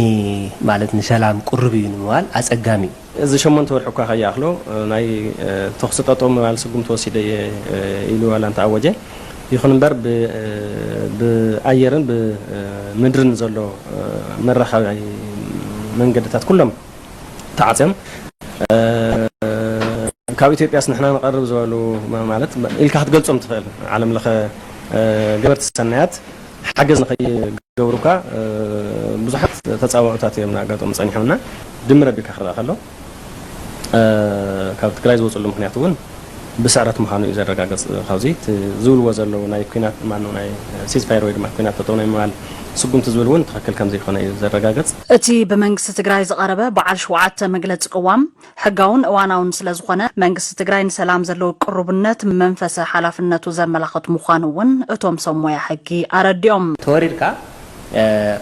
[SPEAKER 15] ማለት ንሰላም ቅሩብ እዩ ንምባል ኣጸጋሚ እዩ። እዚ ሸሞንተ ወርሒ
[SPEAKER 16] እኳ ከይኣኽሎ ናይ ተኹሲ ጠጠው ምባል ስጉምቲ ወሲደ እየ ኢሉ ዋላ እንተኣወጀ፣ ይኹን እምበር ብኣየርን ብምድርን ዘሎ መራኸቢ መንገድታት ኩሎም ተዓጽዮም፣ ካብ ኢትዮጵያስ ንሕና ንቐርብ ዝበሉ ማለት ኢልካ ክትገልጾም እትኽእል ዓለም ለኸ ገበርቲ ሰናያት፣ ሓገዝ ንኸይገብሩካ ብዙሓት ተጻብኦታት እዮም እናኣጋጠሙ ጸኒሖምና። ድምር ኣቢልካ ክረኣ ከሎ ካብ ትግራይ ዝወጽሉ ምኽንያት እውን ብስዕረት ምዃኑ እዩ ዘረጋገጽ። ካብዚ እቲ ዝብልዎ ዘለዉ ናይ ኩናት ማነው ናይ ሲዝፋየር ወይ ድማ ኩናት ጠጠው ናይ ምባል ስጉምቲ ዝብል እውን ትኽክል ከምዘይኮነ እዩ ዘረጋገጽ። እቲ ብመንግስቲ
[SPEAKER 8] ትግራይ ዝቐረበ በዓል ሸውዓተ መግለጺ ቅዋም ሕጋውን እዋናውን ስለዝኾነ መንግስቲ ትግራይ ንሰላም ዘለዎ ቅሩብነት መንፈሰ ሓላፍነቱ ዘመላኽት ምዃኑ እውን እቶም ሰብ ሞያ ሕጊ ኣረዲኦም። ተወሪርካ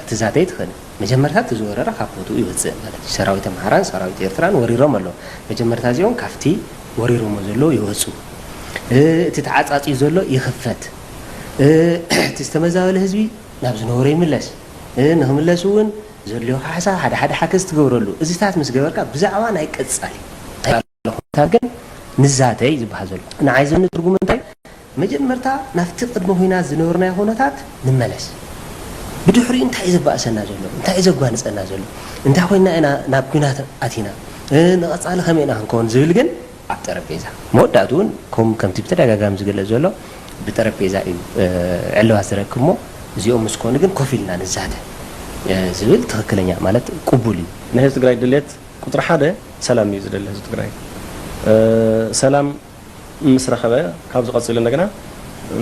[SPEAKER 15] ክትዛተ ኣይትኽእልን መጀመርታ እቲ ዝወረረ ካብ ቦትኡ ይወፅእ ማለት እዩ ሰራዊት ኣምሓራን ሰራዊት ኤርትራን ወሪሮም ኣለዉ መጀመርታ እዚኦም ካፍቲ ወሪሮሞ ዘለዉ ይወፁ እቲ ተዓፃፅዩ ዘሎ ይኽፈት እቲ ዝተመዛበለ ህዝቢ ናብ ዝነበሮ ይምለስ ንኽምለስ እውን ዘድልዮካ ሓሳብ ሓደ ሓደ ሓገዝ ትገብረሉ እዚታት ምስ ገበርካ ብዛዕባ ናይ ቀጻሊ ቃለ ኩነታት ግን ንዛተ እዩ ዝበሃል ዘሎ። ንዓይ ዘኒ ትርጉሙ እንታይ መጀመርታ ናብቲ ቅድሚ ኩናት ዝነበርናዮ ኩነታት ንመለስ ብድሕሪኡ እንታይ እዩ ዘባእሰና ዘሎ እንታይ እዩ ዘጓንጸና ዘሎ እንታይ ኮይና ኢና ናብ ኩናት ኣቲና ንቐጻሊ ከመይ ኢና ክንከውን ዝብል ግን ኣብ ጠረጴዛ መወዳእትኡ እውን ኮም ከምቲ ብተደጋጋሚ ዝግለጽ ዘሎ ብጠረጴዛ እዩ ዕልባት ዝረክብ እሞ እዚኦም ምስ ኮኑ ግን ኮፍ ኢልና ንዛተ ዝብል ትኽክለኛ ማለት ቅቡል እዩ። ናይ ህዝቢ ትግራይ ድልየት
[SPEAKER 16] ቁፅሪ ሓደ ሰላም እዩ ዝደሊ ህዝቢ ትግራይ ሰላም ምስ ረኸበ ካብዚ ቀፂሉ እንደገና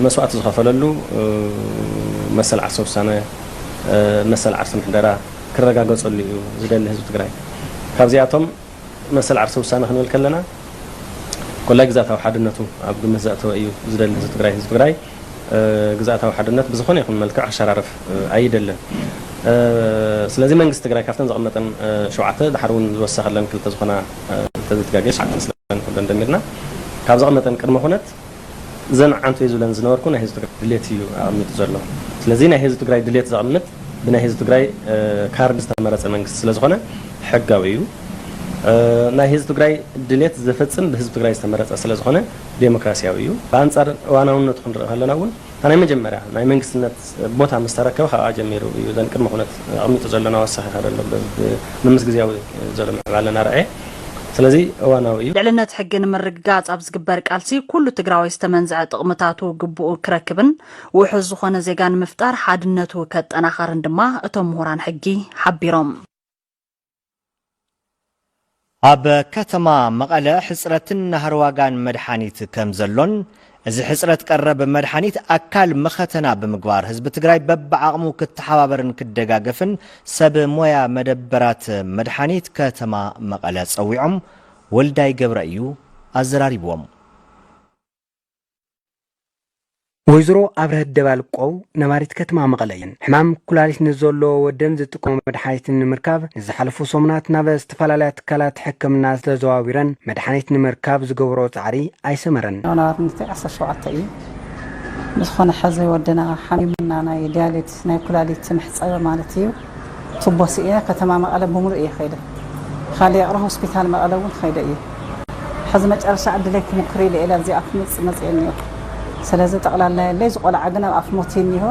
[SPEAKER 16] መስዋእቲ ዝኸፈለሉ መሰል ዓርሰ ውሳነ መሰል ዓርሰ ምሕደራ ክረጋገፀሉ እዩ ዝደሊ ህዝቢ ትግራይ ካብዚኣቶም መሰል ዓርሰ ውሳነ ክንብል ከለና ኮላይ ግዝኣታዊ ሓድነቱ ኣብ ግምት ዘእተወ እዩ ዝደሊ ህዝቢ ትግራይ። ህዝቢ ትግራይ ግዝኣታዊ ሓድነት ብዝኾነ ይኹን መልክዕ ክሸራረፍ ኣይደልን። ስለዚ መንግስቲ ትግራይ ካብተን ዘቐመጠን ሸውዓተ ደሓር እውን ዝወሰኸለን ክልተ ዝኾና እንተዘይተጋግየ ትሽዓተ መስለኒ ኩለን ደሚርና ካብ ዘቐመጠን ቅድመ ኩነት እዘን ዓንተይ ዝብለን ዝነበርኩ ናይ ህዝቢ ትግራይ ድሌት እዩ ኣቐሚጡ ዘሎ። ስለዚ ናይ ህዝቢ ትግራይ ድሌት ዘቕምጥ ብናይ ህዝቢ ትግራይ ካርድ ዝተመረፀ መንግስቲ ስለዝኾነ ሕጋዊ እዩ። ናይ ህዝቢ ትግራይ ድሌት ዘፈፅም ብህዝቢ ትግራይ ዝተመረፀ ስለዝኾነ ዴሞክራሲያዊ እዩ። ብኣንፃር እዋናውነቱ ክንርኢ ከለና እውን እታ ናይ መጀመርያ ናይ መንግስትነት ቦታ ምስ ተረከበ ካብኣ ጀሚሩ እዩ እዘን ቅድመ ኩነት ኣቕሚጡ ዘሎ ናወሰኸ ይኸድ ኣሎ ምምስ ግዝያዊ ዘሎ ምዕባለ ናርኣየ ስለዚ እዋናዊ እዩ። ልዕልነት ሕጊ ንምርግጋፅ
[SPEAKER 8] ኣብ ዝግበር ቃልሲ ኩሉ ትግራዋይ ዝተመንዘዐ ጥቕምታቱ ግቡኡ ክረክብን ውሑስ ዝኾነ ዜጋ ንምፍጣር ሓድነቱ ከጠናኸርን ድማ እቶም ምሁራን ሕጊ ሓቢሮም።
[SPEAKER 1] ኣብ ከተማ መቐለ ሕፅረትን ናህሪ ዋጋን መድሓኒት ከምዘሎን እዚ ሕፅረት ቀረብ መድሓኒት ኣካል መኸተና ብምግባር ህዝቢ ትግራይ በቢዓቕሙ ክተሓባበርን ክደጋገፍን ሰብ ሞያ መደበራት መድሓኒት ከተማ መቐለ ፀዊዖም ወልዳይ ገብረ እዩ ኣዘራሪብዎም።
[SPEAKER 4] ወይዘሮ ኣብረሀት ደባልቆ ነባሪት ከተማ መቐለ እየን። ሕማም ኩላሊት ንዘለዎ ወደን ዝጥቀሙ መድሓኒት ንምርካብ ንዝሓለፉ ሰሙናት ናብ ዝተፈላለያ ትካላት ሕክምና ተዘዋዊረን መድሓኒት ንምርካብ ዝገብርኦ ፃዕሪ ኣይሰመረን። ዮናር ንፊዕ ዓሰርተ
[SPEAKER 17] ሸውዓተ እዩ። ብዝኾነ ሕዚ ወድና ሓሚሙና ናይ ዲያሊት ናይ ኩላሊት መሕጸቢ ማለት እዩ ቱቦ ስኢነ ከተማ መቐለ ብምሉእ እየ ከይደ ኻሊ ይቕረ ሆስፒታል መቐለ እውን ኸይደ እየ ሕዚ መጨረሻ ዕድለይ ክሙክር ኢለ እየ ላብዚ ኣፍ ምጽ መጽየ እኒኦ ስለዚ ጠቕላላ የለይ ዝቆልዓ ግን ኣብ ኣፍ ሞት እኒሆ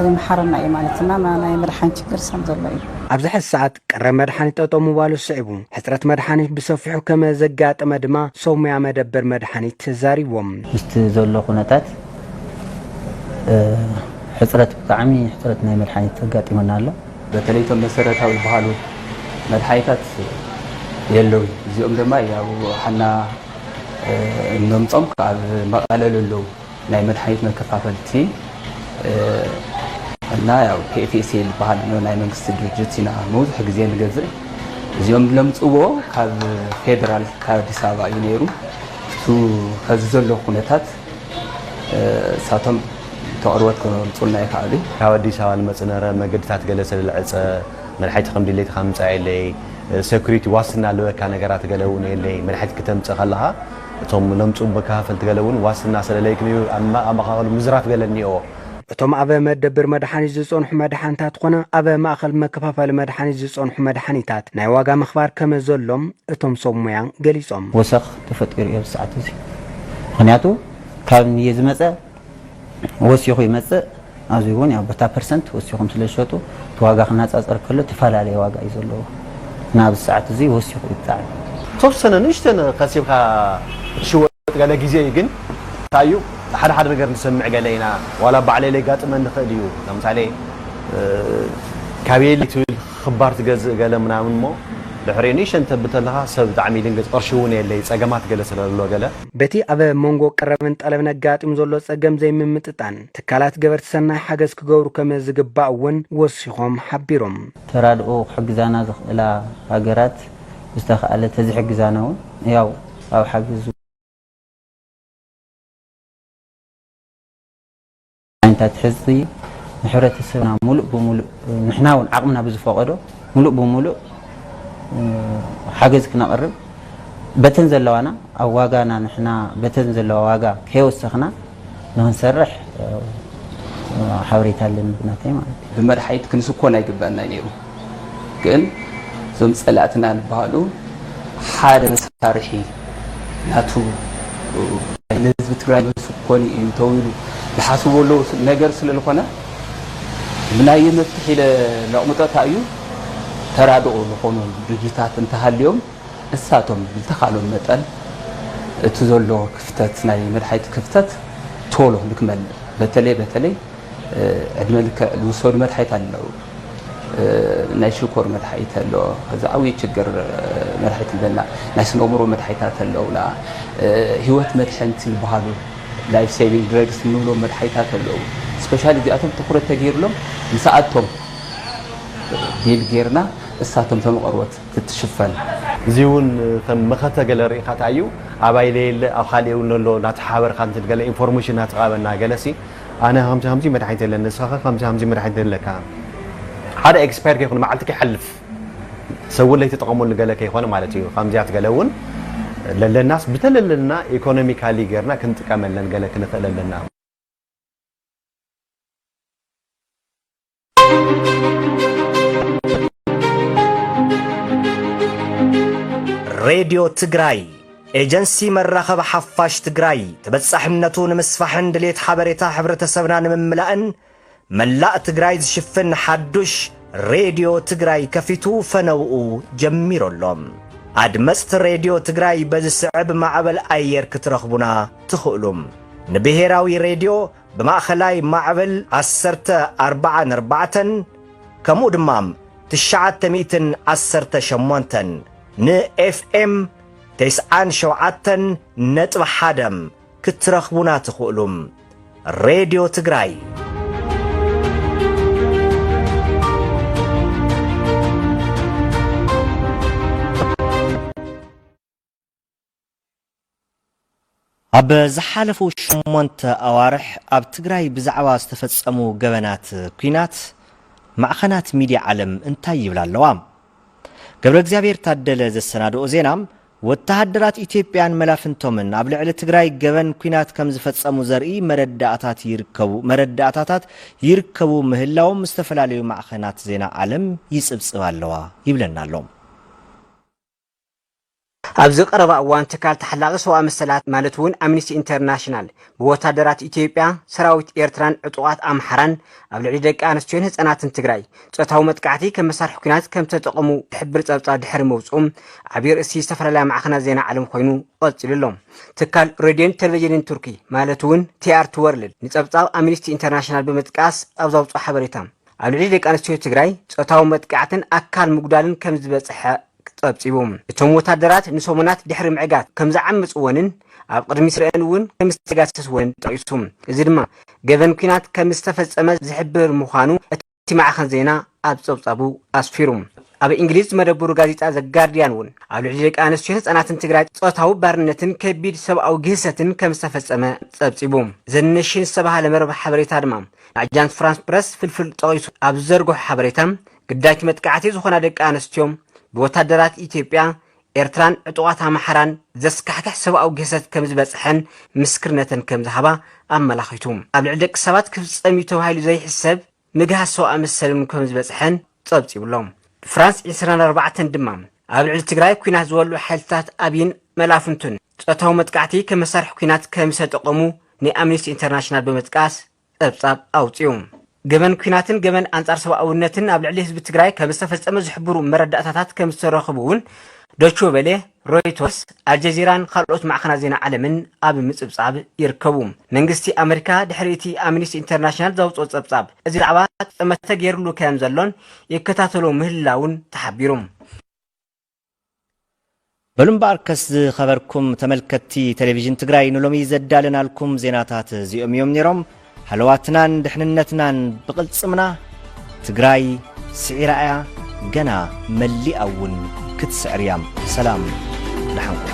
[SPEAKER 17] ይምሓረና እዩ ማለት እና ናይ መድሓን ችግር ሰም ዘሎ እዩ ኣብዚ ሕዚ ሰዓት
[SPEAKER 4] ቀረብ መድሓኒት ጠጠው ምባሉ ስዒቡ ሕፅረት መድሓኒት ብሰፊሑ ከመዘጋጠመ ድማ ሰብሙያ መደበር መድሓኒት ተዛሪቦም። ምስቲ ዘሎ
[SPEAKER 18] ኩነታት ሕፅረት ብጣዕሚ ሕፅረት ናይ መድሓኒት ኣጋጢሙና ኣሎ። በተለይ እቶም መሰረታዊ
[SPEAKER 19] ዝበሃሉ መድሓኒታት የለውን። እዚኦም ድማ ያው ሓና እነምፆም ካብ መቐለ ለለው ናይ መድሓኒት መከፋፈልቲ እና ያው ፒኤፍኤስኤል ዝበሃል ኣሎ ናይ መንግስቲ ድርጅት ኢና መብዝሑ ግዜ ንገዝእ። እዚኦም ዝለምፅዎ ካብ ፌደራል ካብ ኣዲስ ኣበባ እዩ ነይሩ። እቱ ኸዚ ዘሎ ኩነታት እሳቶም ተቕርቦት ክህርጹልና ይኸኣሉ እዩ። ካብ ኣዲስ ኣበባ ንመጽእ
[SPEAKER 20] ነረ መገድታት ገለ ሰለለዐጸ፣ መድሓይቲ ከም ድሌትኻ ምምጻእ የለይ፣ ሰኩሪቲ ዋስትና ልበካ ነገራት ገለ እውን የለይ፣ መድሓይቲ ክተምጽእ ከለኻ እቶም ለምጹ መከፋፈልቲ ገለ እውን ዋስትና ሰለለይ ክምዩ ኣመቓቐሉ ምዝራፍ ገለ እኒኦዎ። እቶም ኣብ
[SPEAKER 4] መደብር መድሓኒት ዝጸንሑ መድሓኒታት ኾነ ኣብ ማእኸል መከፋፈሊ መድሓኒት ዝጸንሑ መድሓኒታት ናይ ዋጋ ምኽባር ከመዘሎም እቶም ሰብ ሙያ ገሊጾም። ወሰኽ ተፈጢሩ
[SPEAKER 18] እዩ ኣብዚ ሰዓት እዚ ምክንያቱ ካብ ንየ ዝመፀ ወሲኹ ይመፅእ ኣብዚ እውን ያው በታ ፐርሰንት ወሲኹም ስለ ዝሸጡ እቲ ዋጋ ክነፃፀር ከሎ ተፈላለየ ዋጋ እዩ ዘለዎ እና ኣብዚ ሰዓት እዚ ወሲኹ እዩ ብጣዕሚ ተወሰነ
[SPEAKER 20] ንእሽተን ከሲብካ ትሽወጥ ገለ ግዜ እዩ ግን እንታይ እዩ ሓደ ሓደ ነገር ንሰምዕ ገለ ኢና ዋላ ባዕለይ ለጋጥመኒ ይኽእል እዩ ለምሳሌ ካበየለይ ትብል ክባር ትገዝእ ገለ ምናምን እሞ ድሕሪ ንእሽተይ እንተብል ተለካ ሰብ ብጣዕሚ ይድንግጽ ቅርሺ ውን የለይ ጸገማት ገለ ስለሎ ገለ። በቲ ኣብ ሞንጎ
[SPEAKER 4] ቀረብን ጠለብን ኣጋጢሙ ዘሎ ጸገም ዘይምምጥጣን፣ ትካላት ገበርቲ ሰናይ ሓገዝ ክገብሩ ከም ዝግባእ እውን ወሲኾም ሓቢሮም። ተራድኦ
[SPEAKER 18] ክሕግዛና ዝኽእላ ሃገራት ዝተኻእለ ተዝሕግዛና ውን ያው ኣብ ሓገዝ። ዓይነታት ሕዚ ንሕብረተሰብና ሙሉእ ብሙሉእ ንሕና እውን ዓቕምና ብዝፈቐዶ ሙሉእ ብሙሉእ ሓገዝ ክነቕርብ በተን ዘለዋና ኣብ ዋጋና ንሕና በተን ዘለዋ ዋጋ ከየወሰኽና ንክንሰርሕ ሓበሬታ ኣለኒ ናተይ ማለት እዩ። ብመድሓኒት ክንስኮን
[SPEAKER 19] ኣይግበኣና ነይሩ። ግን እዞም ጸላእትና ዝበሃሉ ሓደ መሳርሒ ናቱ ንህዝቢ ትግራይ መልሱ ክኮኑ እዩ ተዊሉ ዝሓስቡ ኣለዉ ነገር ስለዝኾነ ብናይ መፍትሒ ኢለ ለቕምጦ እንታይ እዩ ተራድኦ ዝኾኑ ድርጅታት እንተሃልዮም እሳቶም ዝተኻሎም መጠን እቲ ዘሎ ክፍተት ናይ መድሓይቲ ክፍተት ቶሎ ንክመልእ በተለይ በተለይ ዕድመ ልክዕ ዝውሰዱ መድሓኒት ኣለው። ናይ ሽኮር መድሓኒት ኣሎ። እዚ ዓብዪ ችግር መድሓኒት ኣለና። ናይ ስነ ኣእምሮ መድሓኒታት ኣለውና። ህይወት መድሕንቲ ዝበሃሉ ላይፍ ሴቪንግ ድረግስ እንብሎም መድሓኒታት ኣለው። ስፔሻሊ እዚኣቶም ትኩረት ተገይርሎም ምስኣቶም ዲል ጌርና እሳቶም ቶም ቐርቦት ክትሽፈን እዚ እውን
[SPEAKER 20] ከም መኸተ ገለ ርኢኻ ታዩ ኣባይ ለየለ ኣብ ኻሊእ እውን ኣሎ ናተሓበርካ ንትን ገለ ኢንፎርሜሽን ናተቓበና ገለሲ ኣነ ከምዚ ከምዚ መድሓኒት የለን ንስኻኸ ከምዚ ከምዚ መድሓኒት ዶ ኣለካ ሓደ ኤክስፓየር ከይኮነ መዓልቲ ከይሓልፍ ሰብ እውን ለይተጠቐመሉ ገለ ከይኮነ ማለት እዩ ከምዚኣት ገለ እውን ለለናስ ብተለለና ኢኮኖሚካሊ ጌርና ክንጥቀመለን ገለ ክንኽእል ኣለና።
[SPEAKER 1] ሬድዮ ትግራይ ኤጀንሲ መራኸቢ ሓፋሽ ትግራይ ተበጻሕነቱ ንምስፋሕን ድሌት ሓበሬታ ሕብረተሰብና ንምምላእን መላእ ትግራይ ዝሽፍን ሓዱሽ ሬድዮ ትግራይ ከፊቱ ፈነውኡ ጀሚሩ ኣሎ ኣድመፅቲ ሬድዮ ትግራይ በዚ ስዕብ ማዕበል ኣየር ክትረኽቡና ትኽእሉ ንብሔራዊ ሬድዮ ብማእኸላይ ማዕበል ዓሰርተ ኣርባዓን ኣርባዕተን ከምኡ ድማ ትሽዓተ ሚእትን ዓሰርተ ሸሞንተን ን FM ተስዓን ሸውዓተን ነጥቢ ሓደ ክትረኽቡና ትኽእሉ። ሬድዮ ትግራይ ኣብ ዝሓለፉ ሸሞንተ ኣዋርሕ ኣብ ትግራይ ብዛዕባ ዝተፈፀሙ ገበናት ኲናት ማዕኸናት ሚድያ ዓለም እንታይ ይብላ ኣለዋ? ገብረእግዚኣብሔር ታደለ ዘሰናድኦ ዜና ወተሃደራት ኢትዮጵያን መላፍንቶምን ኣብ ልዕሊ ትግራይ ገበን ኲናት ከም ዝፈፀሙ ዘርኢ መረዳእታት ይርከቡ መረዳእታታት ይርከቡ ምህላዎም ዝተፈላለዩ ማዕኸናት ዜና ዓለም ይፅብፅብ ኣለዋ ይብለና ኣሎ።
[SPEAKER 2] ኣብዚ ቀረባ እዋን ትካል ተሓላቒ ሰብኣዊ መሰላት ማለት እውን ኣምኒስቲ ኢንተርናሽናል ብወታደራት ኢትዮጵያ፣ ሰራዊት ኤርትራን ዕጡቓት ኣምሓራን ኣብ ልዕሊ ደቂ ኣንስትዮን ህጻናትን ትግራይ ጾታዊ መጥቃዕቲ ከም መሳርሒ ኲናት ከም ዝተጠቐሙ ዝሕብር ጸብጻብ ድሕሪ ምውጽኡ ዓቢ ርእሲ ዝተፈላለያ ማዕኸናት ዜና ዓለም ኮይኑ ቐጺሉ ኣሎ። ትካል ሬድዮን ቴሌቪዥንን ቱርኪ ማለት እውን ቲኣርቲ ወርልድ ንጸብጻብ ኣምኒስቲ ኢንተርናሽናል ብምጥቃስ ኣብ ዘውጽኦ ሓበሬታ ኣብ ልዕሊ ደቂ ኣንስትዮ ትግራይ ፆታዊ መጥቃዕትን ኣካል ምጉዳልን ከም ዝበፅሐ ፀብፂቡ። እቶም ወታደራት ንሰሙናት ድሕሪ ምዕጋት ከም ዝዓመፅወንን ኣብ ቅድሚ ስረኤን እውን ከም ዝተጋሰስወንን ጠቒሱ። እዚ ድማ ገበን ኲናት ከም ዝተፈፀመ ዝሕብር ምዃኑ እቲ ማዕኸን ዜና ኣብ ፀብፃቡ ኣስፊሩ። ኣብ እንግሊዝ መደብሩ ጋዜጣ ዘ ጋርዲያን እውን ኣብ ልዕሊ ደቂ ኣንስትዮን ህፃናትን ትግራይ ፆታዊ ባርነትን ከቢድ ሰብኣዊ ግህሰትን ከም ዝተፈፀመ ፀብፂቡ። ዘ ነሽን ዝተብሃለ መርበብ ሓበሬታ ድማ ንኣጃንስ ፍራንስ ፕረስ ፍልፍል ጠቒሱ ኣብ ዝዘርግሖ ሓበሬታ፣ ግዳይ'ቲ መጥቃዕቲ ዝኾና ደቂ ኣንስትዮ ብወታደራት ኢትዮጵያ፣ ኤርትራን ዕጡቓት ኣምሓራን ዘስካሕክሕ ሰብኣዊ ግህሰት ከምዝበጽሐን ምስክርነተን ከምዝሃባ ኣመላኺቱ። ኣብ ልዕሊ ደቂ ሰባት ክፍጸም እዩ ተባሂሉ ዘይሕሰብ ምግሃስ ሰብኣዊ መሰል'ውን ከምዝበጽሐን ጸብጺቡ'ሎ። ፍራንስ ዒስራን ኣርባዕተን ድማ ኣብ ልዕሊ ትግራይ ኲናት ዝወልዑ ሓይልታት ኣብይን መላፍንቱን ጾታዊ መጥቃዕቲ ከም መሳርሒ ኲናት ከምዝተጠቐሙ ናይ ኣምኒስቲ ኢንተርናሽናል ብምጥቃስ ጸብጻብ ኣውጺኡ። ገበን ኲናትን ገበን ኣንጻር ሰብኣውነትን ኣብ ልዕሊ ህዝቢ ትግራይ ከምዝተፈጸመ ዝሕብሩ መረዳእታታት ከምዝተረኽቡ'ውን ዶቼ ቬለ፣ ሮይቶርስ፣ ኣልጀዚራን ካልኦት ማዕኸናት ዜና ዓለምን ኣብ ምጽብጻብ ይርከቡ። መንግስቲ ኣመሪካ ድሕሪ እቲ ኣምኒስቲ ኢንተርናሽናል ዘውጽኦ ጸብጻብ እዚ ዛዕባ ጠመተ ገይርሉ ከምዘሎን ይከታተሎ ምህላዉን ተሓቢሩ።
[SPEAKER 1] በሉ እምበኣርከስ ዝኸበርኩም ተመልከትቲ ቴሌቪዥን ትግራይ ንሎሚ ዘዳለናልኩም ዜናታት እዚኦም እዮም ነይሮም። ሃለዋትናን ድሕንነትናን ብቕልጽምና ትግራይ ስዒራ እያ ገና መሊኣ እውን ክትስዕር እያ። ሰላም ደሓን ኩኑ።